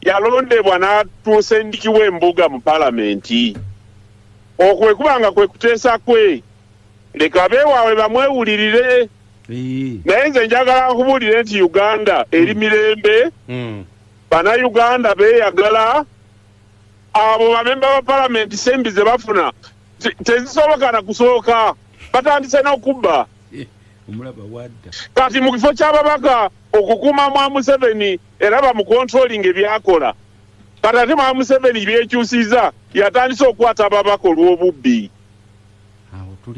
yalondebwa n'atuusa endiki w'embuga mu palamenti okwekuba nga kwe kuteesa kwe leka beewaabwe bamwewulirire naye nze njagala nkubuulire nti uganda eri mm. mirembe mm. banauganda beyagala abo bamemba ba palamenti sembi ze bafuna tezisoboka na kusooka batandise n'okubba eh, kati mu kifo ky'ababaka okukuuma mwa museveni era bamukontrolinga ebyakola kati ate mwa museveni byekyusiza yatandise okukwata ababaka olw'obubbi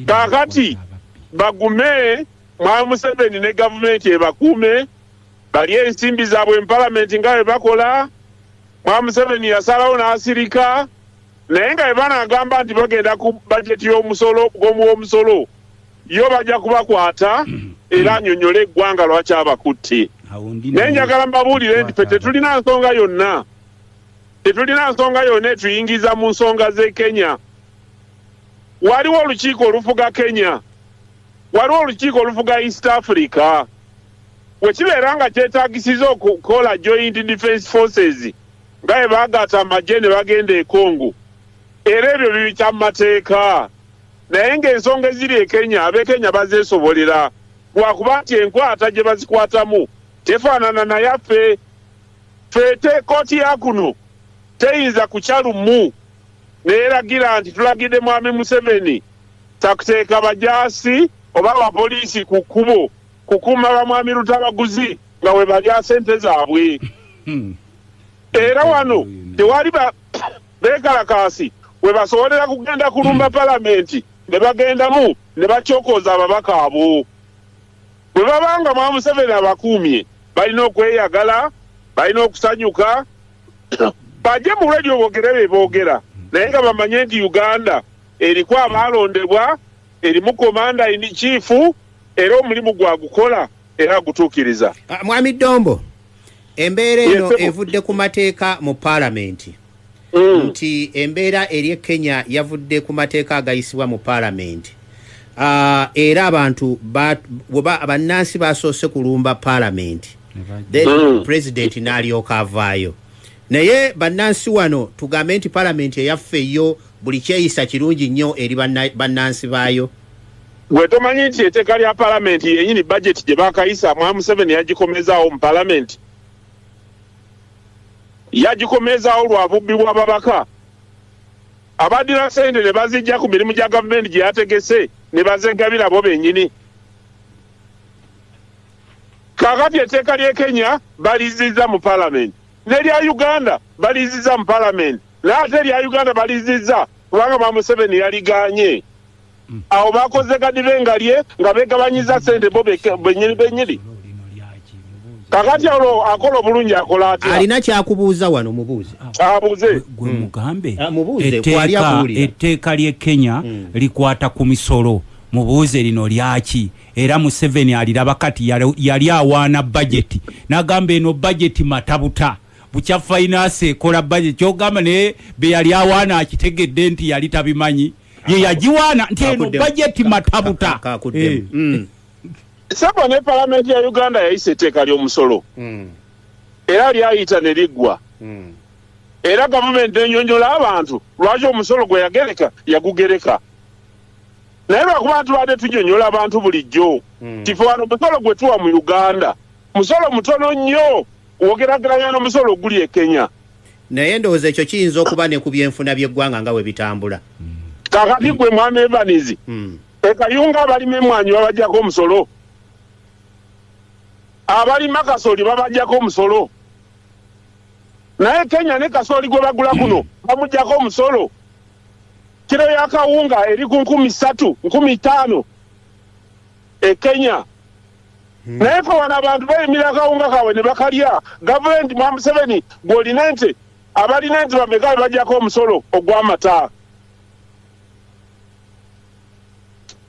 kakati bagume mwami museveni ne gavumenti ebakuume balye ensimbi zaabwe mu palamenti nga bwe bakola mwami museveni yasalawo n'asirika naye nga bwe banagamba nti bagenda ku bajeti y'omusolo gw'omuwomusolo yo bajja kubakwata era anyonyole eggwanga lwaki abakutte naye njagala mbabuulire nti fe tetulina nsonga yonna tetulina nsonga yonna etuyingiza mu nsonga z'e kenya waliwo olukiiko olufuga kenya waliwo olukiiko olufuga east africa wekibeera nga kyetagisiza okukola joint defense forces nga bebagata amagye ne bagenda ekongo era ebyo bibikya mu mateeka naye ng'ensonga eziri e kenya abekenya bazeesobolera lwakuba nti enkwata gye bazikwatamu tefaanana nayaffe ffe te kooti ya kuno teyinza kukya lumu n'eragira nti tulagidde Mwami Museveni takuteeka bajaasi oba abapoliisi ku kkubo kukuuma bamwami Lutabaguzi nga we balya ssente zaabwe. Hmm. Era wano tewali beekalakaasi we basobolera kugenda kulumba hmm. palamenti ne bagendamu ne bakyokooza ababaka abo. Bwe baba nga Mwami Museveni abakuumye balina okweyagala, balina okusanyuka, Baje mu radio bogere bye bogera naye nga bamanye nti Uganda eriku abaalondebwa erimu komanda ini kiifu era omulimu gwagukola era agutuukiriza. Ah, Mwami Dombo, embeera eno evudde ku mateeka mu paalamenti mm. nti embeera eri e Kenya yavudde ku mateeka agayisibwa mu paalamenti uh, era abantu bannansi basoose kulumba paalamenti then mm. president nalyoka avaayo naye bannansi wano tugambe nti palamenti eyaffe yo buli kyeyisa kirungi nnyo eri bannansi baayo gwe tomanyi nti eteeka lya palamenti yenyini bajeti gye bakayisa mwa museveni yagikomezaawo mu palamenti yagikomezaawo lwa bubbi bw'ababaka abadira sente ne bazijja ku mirimu gya gavumenti gye yategese ne bazegabira bo bennyini Kakati etteeka ly'e Kenya balizizza mu palamenti, n'erya Uganda balizizza mu palamenti, naye ate erya Uganda balizizza kubanga ba Museveni yaliganye. Hmm. Awo bakoze gadibe nga lye nga begabanyiza sente bo benyini benyini. Kakati awo akola obulungi akola atya? Alina kyakubuuza wano mubuuze. Abuuze. Gwe hmm. mugambe. Ah, mubuuze kwali abuulira. Etteeka ly'e Kenya hmm. likwata ku misolo. Mubuuze lino lyaki? era museveni aliraba kati yali awaana bajeti nagamba eno bajeti matabuta bukya fainansi ekola bajeti kyogamba naye beyali awaana akitegedde nti yali tabimanyi ye yagiwaana nti eno bajeti matabuta eh. mm. sebo ne palamenti ya uganda yayisa etteeka ly'omusolo mm. era lyayita ne liggwa mm. era gavumenti enyonyola abantu lwaki omusolo gwe yagereka yagugereka naye lwakuba tubadde tunyonyola abantu bulijjo hmm. tife wano musolo gwe tuwa mu uganda musolo mutono nnyo wogerageranya nomusolo oguli ekenya naye ndowooza ekyo kiyinza okuba ne ku byenfuna byeggwanga nga we bitambula hmm. kakati gwe mwana evanizi hmm. ekayunga abalima emwanyi babajjako omusolo abalima kasoli babajjako omusolo naye kenya ne kasoli gwe bagula kuno bamujjako omusolo Kilo ya kawunga eri ku nkumi satu nkumi itaano e Kenya hmm. naye fe wano abantu bayimira akawunga kaabwe ne bakalya gavumenti mwa Museveni gw'olina ente abalina ente bameka be bajjako omusolo ogw'amata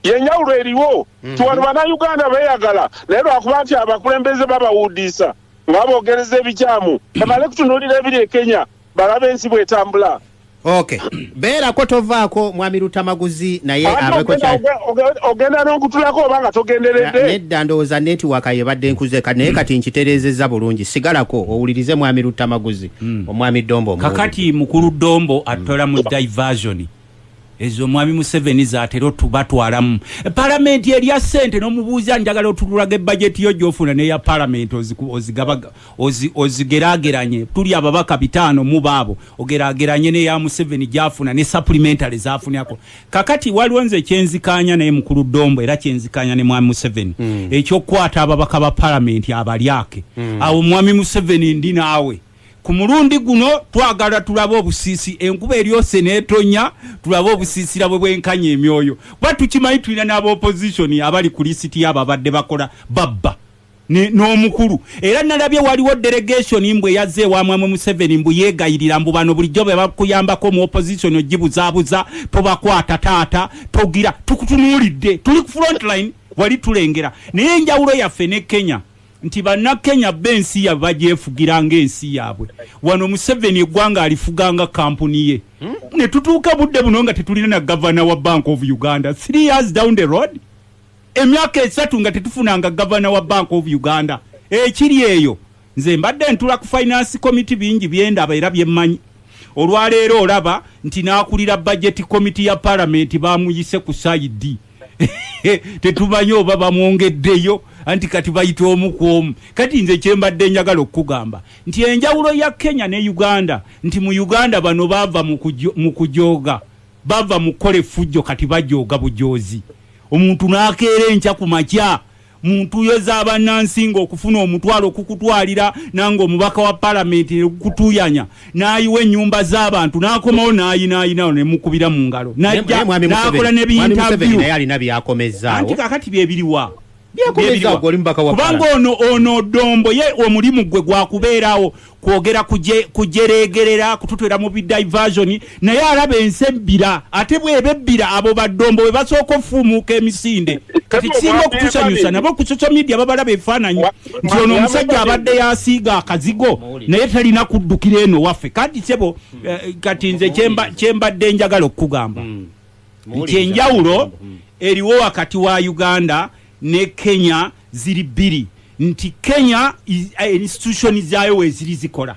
yenjawulo eriwo hmm. ti wano banauganda beeyagala naye lwakuba nti abakulembeze babawuudiisa nga bogereza ebikyamu ebale kutunuulira ebiri e Kenya balabe ensi bwetambula ok beerako tovaako mwami lutamaguzi naye ogenda nokutulako oba nga togendereddnedda ndowooza netiwaka yebadde nkuzeka naye kati nkitereezezza bulungi sigalako owulirize mwami lutamaguzi hmm. omwami dombo kakati mukulu dombo atola mu diversion Ezo omwami Museveni zatera otubatwalamu e palamenti erya sente nomubuuza njagala otululaga ebajeti yo gyofuna neya palamenti ozigerageranye tuli ababaka bitaano muba abo ogerageranye neya Museveni gyafuna ne supplementary zafunako kakati waliwo nze kyenzikanya naye mukulu Dombo era kyenzikanya ne mwami Museveni mm. ekyokukwata ababaka ba palamenti abalyake mm. awo mwami Museveni ndi naawe Ku mulundi guno twagala tulabe obusiisi enkuba eryose n'etonya tulabe obusiisira bwe bwenkanya emyoyo kuba tukimanyi tulina n'aba opposition abali ku lisiti y'abo abadde bakola babba ne- n'omukulu era nalabye waliwo delegation mbu eyazze ewa mwamwe Museveni mbu yeegayirira mbu bano bulijjo be bakuyambako mu opposition ogibuzaabuza tobakwata taata togira tukutunuulidde tuli ku front line wali tulengera naye enjawulo yaffe ne Kenya nti bannakenya bba ensi yabwe bagyefugira ng'ensi yaabwe wano museveni eggwanga alifuga nga kampuni ye hmm? ne tutuuka budde buno nga tetulina na gavana wa bank of uganda three years down the road emyaka esatu nga tetufunanga gavana wa bank of uganda ekiri eyo nze mbadde ntula ku finance committee bingi byendaba era byemmanyi olwaleero olaba nti n'akulira bajeti committee ya palamenti bamuyise ku saidi tetumanyi oba bamwongeddeyo anti kati bayita omu ku omu kati nze kyembadde njagala okukugamba nti enjawulo ya kenya ne uganda nti mu uganda bano baava mu kujooga baava mu kukola effujjo kati bajooga bujoozi omuntu nakeera enkya ku makya Mu ntuuyo za bannansi ng'okufuna omutwalo kukutwalira nange omubaka wa Palamenti ne gukutuuyanya n'ayiwa ennyumba z'abantu n'akomawo n'ayinaayinawo ne mukubira mu ngalo Naye n'ajja naye mwami Museveni, n'akola ne mwami Museveni naye biyintaviyu. alina byakomezzaawo. Anti kaakati bye biriwa? Byakomezzaawo, Bye biriwa? oli mubaka wa Kubanga Palamenti. ono ono Dombo ye omulimu gwe gwa kubeerawo kwogera kujeregerera kututwera mu bidiversion naye alaba ensi ebbira ate bweba ebbira abo baddombo bwe basooka ofuumuuka emisinde kati kisinga okutusanyusa nabo ku social media babalaba ebifaananyi nti ono omusajja abadde yasiiga akazigo naye talina kuddukira eno waffe kati sebo eh, kati nze kyembadde njagala okukugamba hmm. nti enjawulo hmm. eriwo wakati wa uganda ne Kenya ziri bbiri nti Kenya eh, institution zaayo weeziri zikola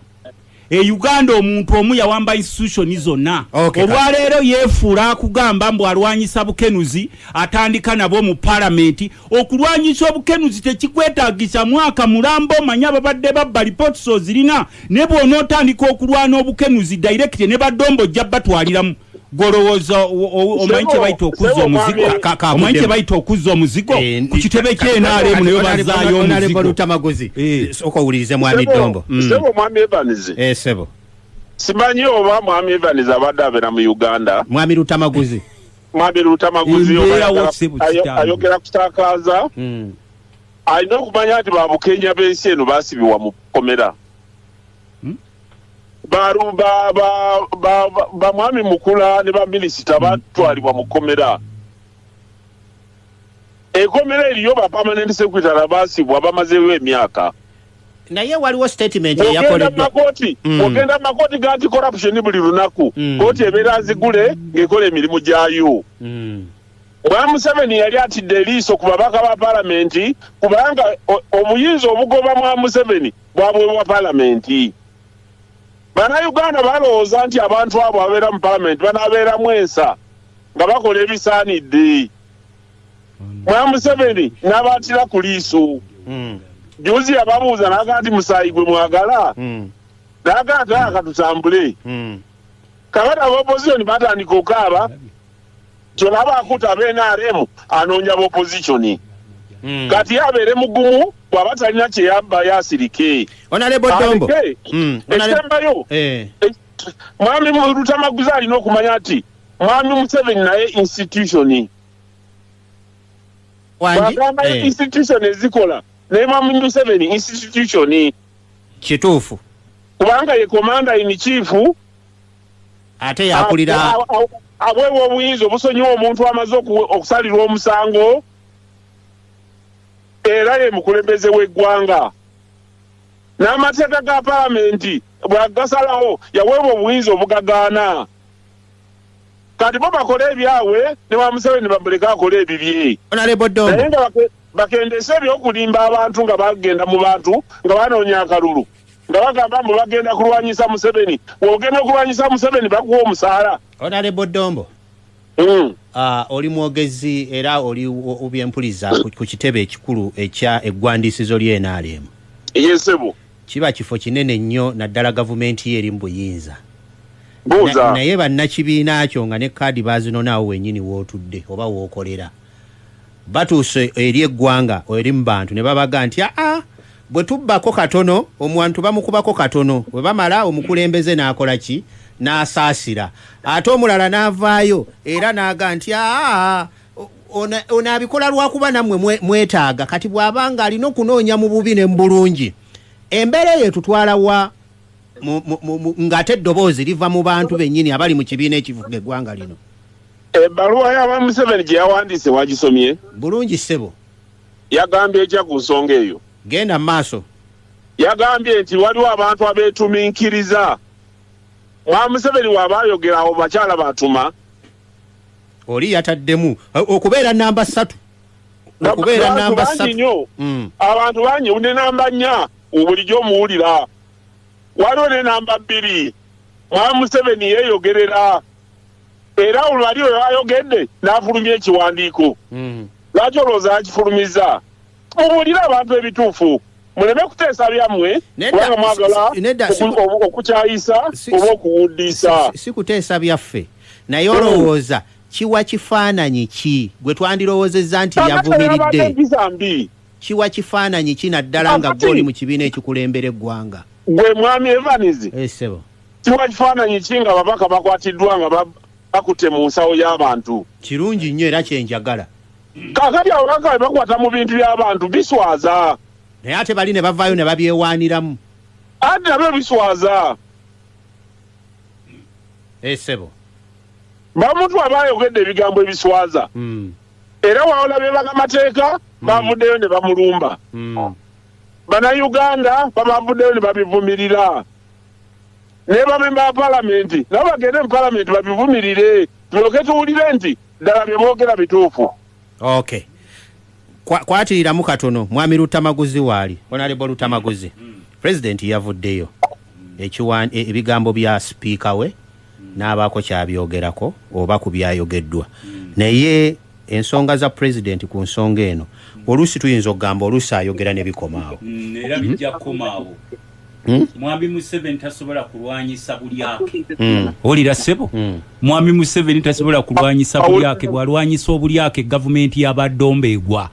e Uganda omuntu omu yawamba institution zonna okay, olwaleero yeefuula akugamba mbu alwanyisa bukenuzi atandika nabwo mu palamenti okulwanyisa obukenuzi tekikwetagisa mwaka mulambo manya babadde babba lipots ozirina ne bwonaotandika okulwana obukenuzi directe ne badombo ojja batwaliramu gwolowooza omanyi kyebayita okuzza omuzigo omanyi kyebayita okuzza omuzigo eh, ku kitebe kyenaremu nayo bazaayo omuzigoamaguzi eh. soka owulirize mwami dombo mm. sebo mwami evans eh, sebo simanyi oba mwami evans abadde abeera mu uganda mwami lutamaguzi mwami lutamaguzi ayogera kutakaaza mm. alina okumanya nti babukenya b'ensi eno basibibwa mu komera bamwami mukula ne baminisita hmm. batwalibwa mu kkomera ekomera eriyo bapamanenti sekwitala basibwa bamazeewo emyaka naye waliwo statement eyakoleddwakooti hmm. ogenda makooti ganti corruption buli lunaku hmm. kooti ebeera nzigule ng'ekola emirimu gyayo bwa museveni yali atidde eriiso ku babaka ba palamenti kubanga obuyinza obugoba mwa museveni bwabwe bwa palamenti. Bannayuganda balowooza nti abantu abo ababeera mu palamenti banaabeeramu ensa nga bakola ebisaanidde. Mwami Museveni n'abaatira ku liiso. Hmm. Juzi yababuuza n'aga nti musaayi gwe mwagala? Hmm. N'aga nti aya katutambule. Hmm. Kabata abaopozisoni batandika okaaba kyebaba akuta abenaremu anoonya bopozitioni hmm. kati abeere mugumu bwaba talina kyeyabba yasirike hmm. ekisembayo eh. mwami lutamaguza alina okumanya nti mwami museveni naye institutioni agamba eh. institution ezikola naye mwami museveni institutioni kituufu kubanga ye komanda ini chiifu ate yakulira abwewa obuyinza obusonyiwa omuntu amaze okusalirwa omusango era ye mukulembeze w'eggwanga n'amateeka ga palamenti bwagasalawo yaweebwa obuyinza obugagaana kati bo bakole ebyabwe ne ba museveni bamuleke akole ebibye naye nga bakendese ebyokulimba abantu nga bagenda mu bantu nga banoonya akalulu nga bagamba mbu bagenda kulwanyisa museveni ogenda okulwanyisa museveni bakuwa omusaala onalebo dombo mm. uh, oli mwogezi era oli obyempuliza ku kitebe ekikulu ekya eggwandiisizo lyenaliemu yesebo kiba kifo kinene nnyo naddala gavumenti ye eri mu buyinza naye bannakibiina kyo nga ne kaadi bazinonaawo wenyini wootudde oba wookolera Batuuse eri eggwanga eri mu bantu ne babaga nti, Aa, bwe tubbako katono, omuantu bamukubako katono, bwe bamala omukulembeze n'akola ki? N'asaasira. Ate omulala n'avaayo era n'aga nti, Aa, ono, ono abikola lwa kuba nammwe mwe, mwetaaga. Kati bw'aba ng'alina okunoonya mu bubi ne mu bulungi, embeera eyo etutwala wa? Mu, mu, mu, mu, ng'ate eddoboozi liva mu bantu bennyini abali mu kibiina ekifuga eggwanga lino. Ebbaluwa ya ba Museveni gye yawandiise wagisomye? Bulungi ssebo. Yagambye etya ku nsonga eyo? Genda mu maaso. Yagambye nti waliwo abantu abeetuminkiriza. Mwa Museveni w'aba ayogera awo bakyala b'atuma. Oli yataddemu okubeera namba ssatu. Okubeera namba ssatu. Hmm. Abantu bangi ne namba nnya bulijjo omuwulira. Waliwo ne namba bbiri. Mwa Museveni yeeyogerera. era olwo ali oyo ayogedde n'afulumya ekiwandiiko hmm. lwaki olowooza yakifulumiza mubuulire abantu ebituufu muleme kuteesa byammwe kubanga mwagala okukyayisa oba okuwuddiisa si kuteesa byaffe naye olowooza kiwa kifaananyi ki gwe twandirowoozezza nti yavumiridde kiwa kifaananyi ki naddala nga gwe oli mu kibiina ekikulembereggwanga gwe mwami evanizi eh, Kiwa kifaananyi ki nga babaka bakwatiddwa nga bakutte mu nsawo y'abantu? Kirungi nnyo era kye njagala. Kaakati ababaka bwe bakwata mu bintu by'abantu biswaza. Naye ate bali ne bavaayo ne babyewaaniramu. Anti nabyo biswaza. Ee eh, ssebo. Bamuntu aba ayogedde ebigambo ebiswaza. Hmm. Era wawola be bakamateeka hmm. bavuddeyo ne bamulumba. Hmm. Bannayuganda babavuddeyo ne babivumirira. ne bamemba ba Palamenti nabo bagende mu Palamenti babivumirire tulyoke tuwulire nti ddala bye boogera bituufu. Okay. Kwatiriramu katono mwami Lutamaguzi waali Honorable Lutamaguzi Pulezidenti yavuddeyo e, ebigambo bya sipiika we n'abaako kyabyogerako oba ku byayogeddwa naye ensonga za pulezidenti ku nsonga eno oluusi tuyinza okugamba oluusi ayogera ne bikomaawo mm, era bijja kukomaawo Hmm? mwami museveni tasobola kulwanyisa bulyake hmm. olira sebo hmm. mwami museveni tasobola kulwanyisa bulyake bwalwanyisa obulyake gavumenti yabadomba egwa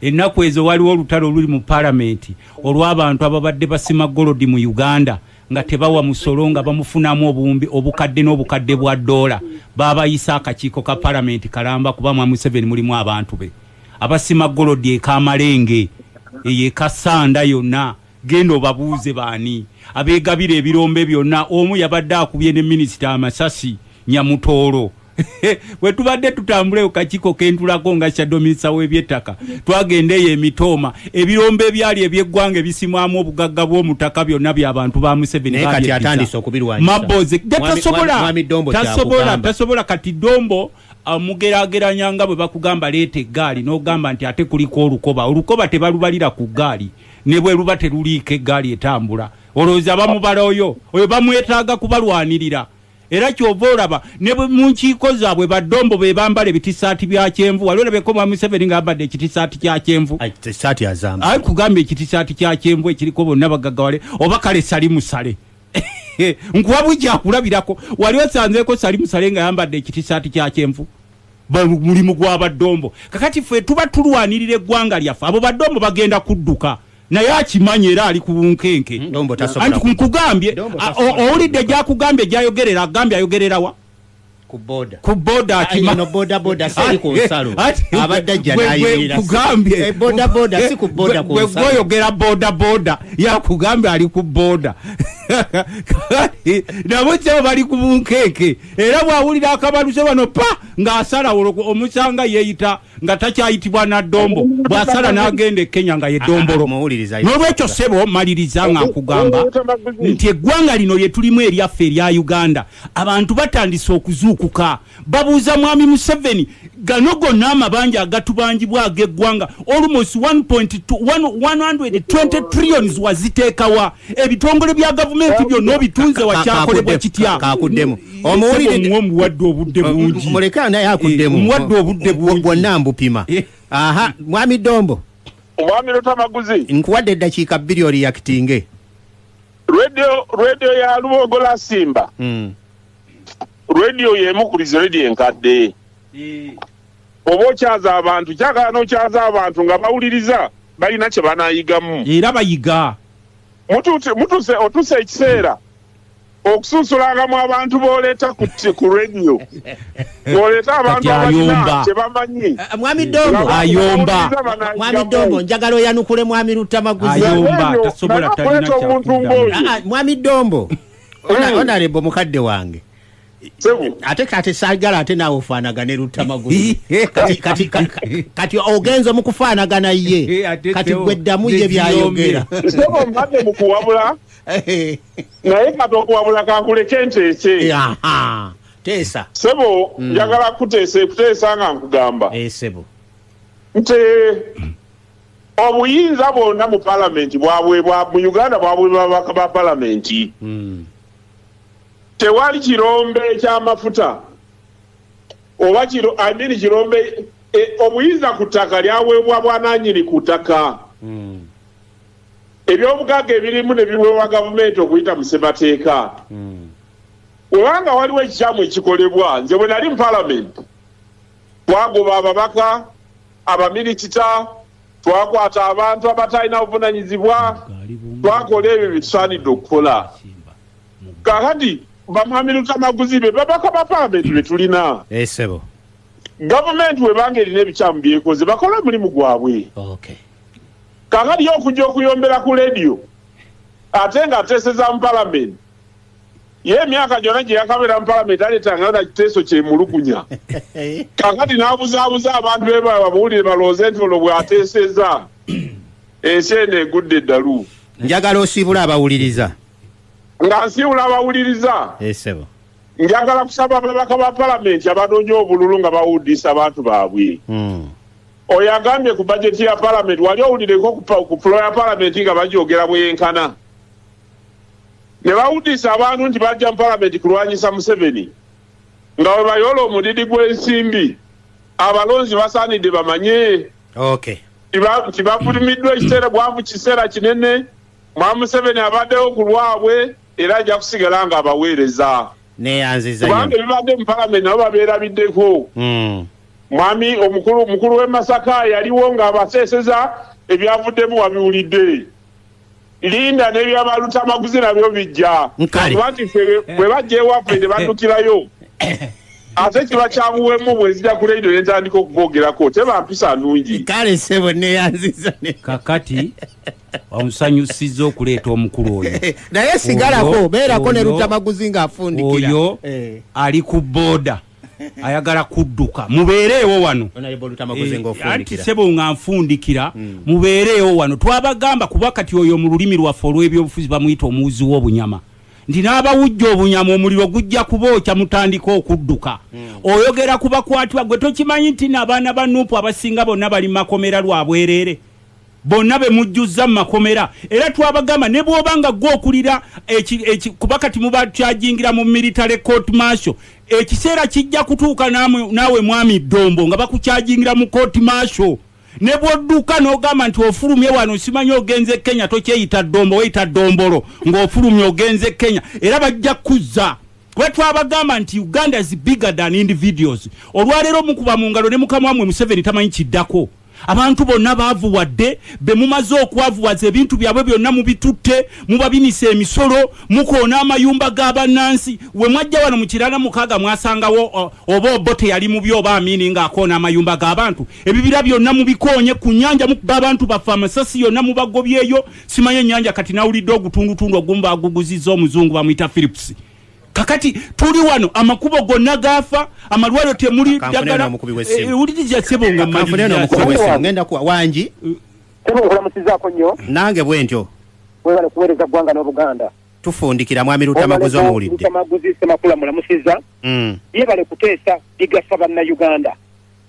ennaku ezo waliwo olutalo oluli mu palamenti olw'abantu ababadde basima golodi mu uganda nga tebawa musolo nga bamufunamu obuwumbi obukadde n'obukadde bwa doola baabayisa akakiiko ka palamenti kalamba kuba mwami museveni mulimu abantu be abasima golodi ekamalenge eyo ekasanda yonna Genda obabuuze baani abegabira ebirombe byonna omu yabadde akubye ne minisita amasasi Nyamutooro. Bwe tubadde tutambula ku kakiiko ke ntulako nga shadow minisita w'ebyettaka twagenda eyo e Mitooma ebirombe ebyali eby'eggwanga ebisimwamu obugagga bw'omu ttaka byonna bya bantu ba Museveni Naye kati atandise okubirwanyisa. Mabbozi ge Mwami- tasobola Mwami Dombo tasobola kyakugamba. tasobola kati Dombo amugerageranya nga bwe bakugamba leeta eggaali n'ogamba nti ate kuliko olukoba. Olukoba tebalubalira ku ggaali. ne bwe luba teruliiko eggaali etambula olowooza bamubala oyo oyo bamwetaaga kubalwanirira era kyova olaba ne mu nkiiko zaabwe baddombo be bambala ebitisaati bya kyenvu wali olabeko mwa museveni nga yambadde ekitisaati kya kyenvu ai kugamba ekitisaati kya kyenvu ekiriko bonna bagaggawale oba kale sali musale nkuwa bujja kulabirako wali osanzeeko sali musale nga yambadde ekitisaati kya kyenvu mulimu gwa badombo kakati fe tuba tulwanirira eggwanga lyaffe abo badombo bagenda kudduka naye akimanyi era ali ku bunkenke hmm, anti kunkugambye owulidde gyakugambye gyayogerera agambye ayogererawa ku boda akimagweyogera boda boda yakugambye ali ku boda nabo kyabo bali ku bunkeeke era bw'awulira akabaluze wano pa ng'asala olwo omusanga yeeyita nga takyayitibwa naddombo bw'asala n'agenda e kenya nga ye ddombolo ah, ah, n'olwekyo ssebo maliriza nga nkugamba nti eggwanga lino lye tulimu eryaffe erya uganda abantu batandise okuzuukuka babuuza mwami museveni Gano gonna amabanja agatubanjibwa agegwanga almost 1.120 trillions wazitekawa? Ebitongole bya gavumenti byonna obitunze wa kyakolebwa kitya? Kakudemu. Omuwulide omuwadde obudde bungi. Muleka naye akudemu. Eh, omuwadde obudde bungi. Bwonna mbupima. Eh. Aha, mwami Dombo. Mwami Lutamaguzi. Nkuwadde eddakiika bbiri oriyakitinge. Radio, radio ya Lubogo la Simba. Mm. radio yemu ku bizi radio enkadde eh. oba okyaza abantu kyagala nokyaza abantu nga bawuliriza balina kyebanayigamu era bayiga mutuse otuse ekiseera okusunsulangamu abantu boleeta ku radio boleeta abantu abalina kyebamanyi eh, eh, mwami dongo ayomba mwami dongo njagala oyanukule mwami lutamaguzi ayomba tasobola talina kyakudamu ah, ah, mwami dongo Ona- Mm. onarebo mukadde wange Sebu. ate kati sagala ate naawe ofaanagane lutta magulu kati, kati, ka- ka- kati ogenze mu kufaanagana ye Eh, ate kati Teo, gwe ddamu ye byayogera Sebo mbadde mu kuwabula Eh, naye kati okuwabula kankuleke nteese. aha. teesa Sebo Mm. njagala kuteesa kuteesa nga nkugamba Eh, sebo nti Obuyinza bwona mu palamenti bwabwebwa mu Uganda bwabwebwa babaka ba palamenti. Hmm. Tewali kirombe kya mafuta oba kiro I mean kirombe e, obuyinza ku ttaka lyawebwa bwananyini ku ttaka. Hmm. Ebyobugagga ebirimu ne biweebwa gavumenti okuyita mu ssemateeka. Hmm. Webanga waliwo ekikyamu ekikolebwa nze bwe nali mu palamenti twagoba ababaka abamilikita twakwata abantu abatalina buvunanyizibwa twakola ebyo byetusaanidde okukola kakati bamwamilutamaguzi be babaka bapameti betulina esebo eh, gavumenti webanga erina ebikyamu byekoze bakola omulimu gwabwe kakati yo okujja okuyombera ku lediyo ate nga ateeseza mu palamenti ye emyaka gyona gyeyakabeera mu palamenti aletanga na kiteeso kyemulugunya kakati nabuzabuza abantu bebababuulire balooze nti ono bwateeseza ensi eno egudde eddalu njagala osiibula abawuliriza nga nsiibula abawuliriza esebo eh, njagala kusaba ababaka ba palamenti abanoonya obululu nga bawudiisa abantu baabwe hmm. oyo agambye ku bajeti ya palamenti wali owulireko ku pulo ya palamenti nga bagyogera bweyenkana ne bawuddiisa abantu nti bajja mu palamenti kulwanyisa Museveni nga bwe bayoola omudidi gw'ensimbi abalonzi basaanidde bamanye nti bafulumiddwa ekiseera bwavu kiseera kinene mwa Museveni abaddewo ku lwabwe era ajja kusigala nga abaweereza kubanga ebibadde mu palamenti nabo babeerabiddeko hmm. mwami omukulu w'e Masaka yaliwo ng'abaseeseza ebyavuddemu wabiwulidde linda nebya balutamaguzi nabyo bijja kuba nti fe bwe bajja ewaffe ne baddukirayo ate kiba kyanguwemu bwezija ku radio netandika okubogerako teba mpisa nungi kale sebo neyanziza kakati omusanyusiza okuleeta omukulu oyo naye sigalako beerako ne lutamaguzi nga afundikira oyo eh. ali ku boda ayagala kudduka mubeereewo wano eh, anti sebo nga nfundikira hmm. mubeereewo wano twabagamba kuba kati oyo mu lulimi lwaffe olw'ebyobufuzi bamuyita omuwuzi w'obunyama nti n'abawujja obunyama omuliro gujja kubookya mutandika okudduka hmm. oyogera ku bakwatibwa gwe tokimanyi nti naabaana ba nuupu abasinga bonna bali makomera lwa bwereere bonna be mujjuzza mu makomera era twabagamba ne bw'oba nga ggwe okulira kuba kati mubakyajingira mu military court martial ekiseera kijja kutuuka naawe mwami ddombo nga bakukyajingira mu court martial ne bw'odduka n'ogamba nti ofulumye wano simanya ogenze kenya tokyeyita ddombo weyita ddombolo ng'ofulumye ogenze kenya era bajja kuzza kuba twabagamba nti uganda is bigger than individuals olwaleero mukuba mu ngalo ne mukama wamwe museveni tamanyi kiddako Abantu bonna baavuwadde, be mumaze okwavuwaza ebintu byabwe byonna mubitutte, mubabinisa emisolo, mukoona amayumba ga bannansi. We mwajja wano mu Kiraala mukaaga mwasangawo oba Obote yali mubi oba Amini ng'akoona amayumba g'abantu? Ebibira byonna mubikoonye, ku nnyanja mukuba abantu baffe, amasasi yonna mubagobyeyo. Simanyi ennyanja kati nawulidde ogutundutundu ogumu baaguguzizza Omuzungu bamuyita Philips. kakati tuli wano amakubo gonna gafa amalwaliro temuli ddagala ewuliriza eh, sebo nga maliwangi sebo nkulamusizako nnyo nange bwe ntyo webale kuweereza ggwanga n'obuganda tufundikira mwami lutamaguzi omuwulidde lutamaguzi semakula mulamusiza mm. yebale kuteesa bigasa bannayuganda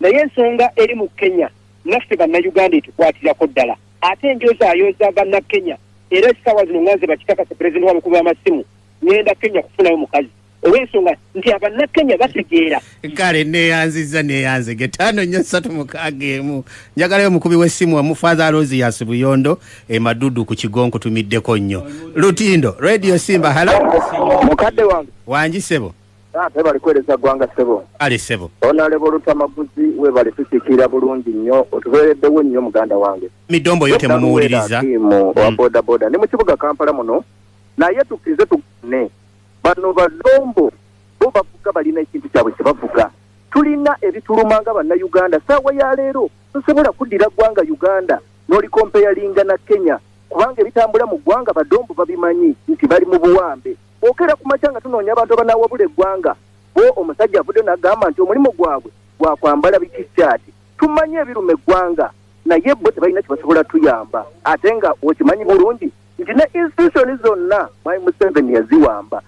naye ensonga eri mu kenya naffe bannayuganda etukwatirako ddala ate enjozaayooza bannakenya era essaawa zino nga nze bakikakasa pulezidenti wa mukulu w'amasimu ngenda kenya kufunayo mukazi olwensonga nti abannakenya bategeera kale neyanziza neyanze getaano nyo satu mukaaga emu njagalayo omukubi w'essimu wamufaza rosi yasi buyondo emadudu ku kigo nkutumiddeko nnyo lutindo radio simba hala mukadde wange wangi sebo tebali kuwereza ggwanga ssebo ali ssebo onaleba olutamaguzi webali tusikiira bulungi nnyo otubeereddewo nnyo muganda wange midombo yo temumuwuliriza owa mm. bodaboda ne mu kibuga kampala muno Naye tukirize tugane bano balombo bo bavuga balina ekintu kyabwe kyebavuga tulina ebituluma nga banna Uganda saawa ya leero tusobola kuddira gwanga Uganda nolikompeyalinga na Kenya kubanga ebitambula mu gwanga badombo babimanyi nti bali mu buwambe okera ku makya nga tunoonya abantu abanawabula eggwanga bo omusajja avudde nagamba nti omulimu gwabwe gwakwambala bikikyati tumanyi ebiruma eggwanga naye bo tebalina kyebasobola tuyamba ate nga okimanyi bulungi nti ne institution zonna mwami museveni yaziwamba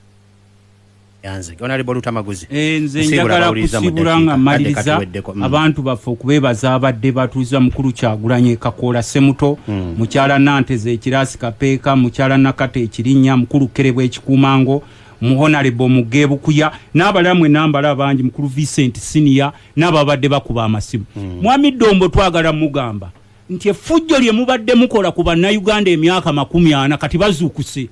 yanze onalebo lutamaguzi eh, nze njagala kusibula nga maliriza mm. abantu baffe okubebaza abadde batuuza mukulu kyagulanye kakoola semuto mm. mukyala nanteza ekirasi kapeeka mukyala nakata ekirinya mukulu kerebwa ekikuumango muhonalebo mugebukuya n'abalala mwe nambala abangi mukulu vincent siniya n'ababadde bakuba amasimu mm. mwami dombo twagala mugamba nti effujjo lye mubadde mukola ku Bannayuganda emyaka makumi ana kati bazuukuse,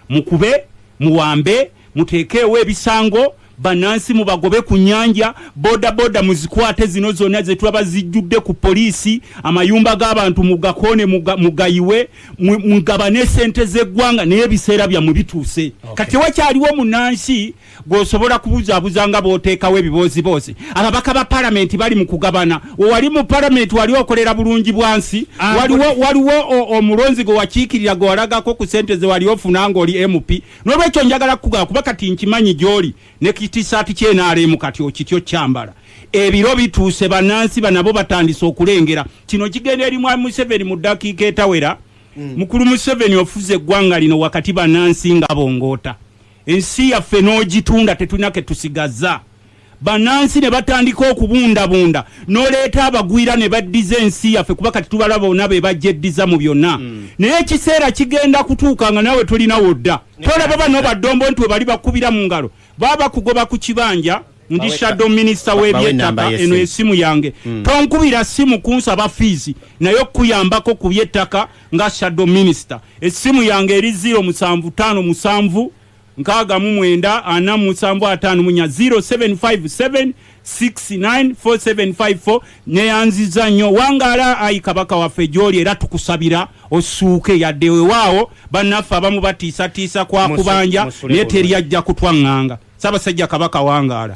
mukube, muwambe, muteekeewo ebisango, bannansi mubagobe ku nnyanja, bodaboda muzikwate, zino zonna ze tulaba zijjudde ku poliisi, amayumba g'abantu mugakoone, mugayiwe, mugabane ssente z'eggwanga naye ebiseera byammwe bituuse kati tewakyaliwo munnansi. gwosobola kubuzabuza nga bwotekawo ebibooziboozi ababaka ba palamenti bali mu kugabana wewali mu palamenti wali okolera bulungi bwansi ah, waliwo omulonzi gwe wakiikirira gwe walagako ku sente ze wali ofuna ngaoli mp nolwekyo njagala kukugaba kuba kati nkimanyi gyoli ne kitisaati kyenaremu kati okityo kyambala ebiro bituuse banansi banabo batandise okulengera kino kigenda eri mwami museveni mu ddakiika etawera mm. mukulu museveni ofuze eggwanga lino wakati banansi nga bongoota Ensi yaffe n'ogitunda tetulina ke tusigazza. Bannansi ne batandika okubundabunda n'oleeta abagwira ne baddiza ensi yaffe kuba kati tubalaba bona be bagyeddiza mu byonna. Naye ekiseera kigenda kutuuka nga naawe tolina w'odda. Tolaba bano baddombo nti we bali bakukubira mu ngalo baba bakugoba ku kibanja. Ndi shadow minister Ba- bawe w'eby'ettaka enamba y'essimu. eno esimu yange Mm. tonkubira simu kunsaba fiizi naye okukuyambako ku by'ettaka nga shadow minister essimu yange eri 0 musanvu tano musanvu nkaaga mu mwenda ana mu musanvu ataano munya 0757 694754 neyanziza nnyo wangaala ayi kabaka waffe gyoli era tukusabira osuuke yadde wewaawo bannaffe abamu batiisatiisa kwa Musu- kubanja musule naye bulungi. teri ajja kutwaŋŋanga sabasajja kabaka wangaala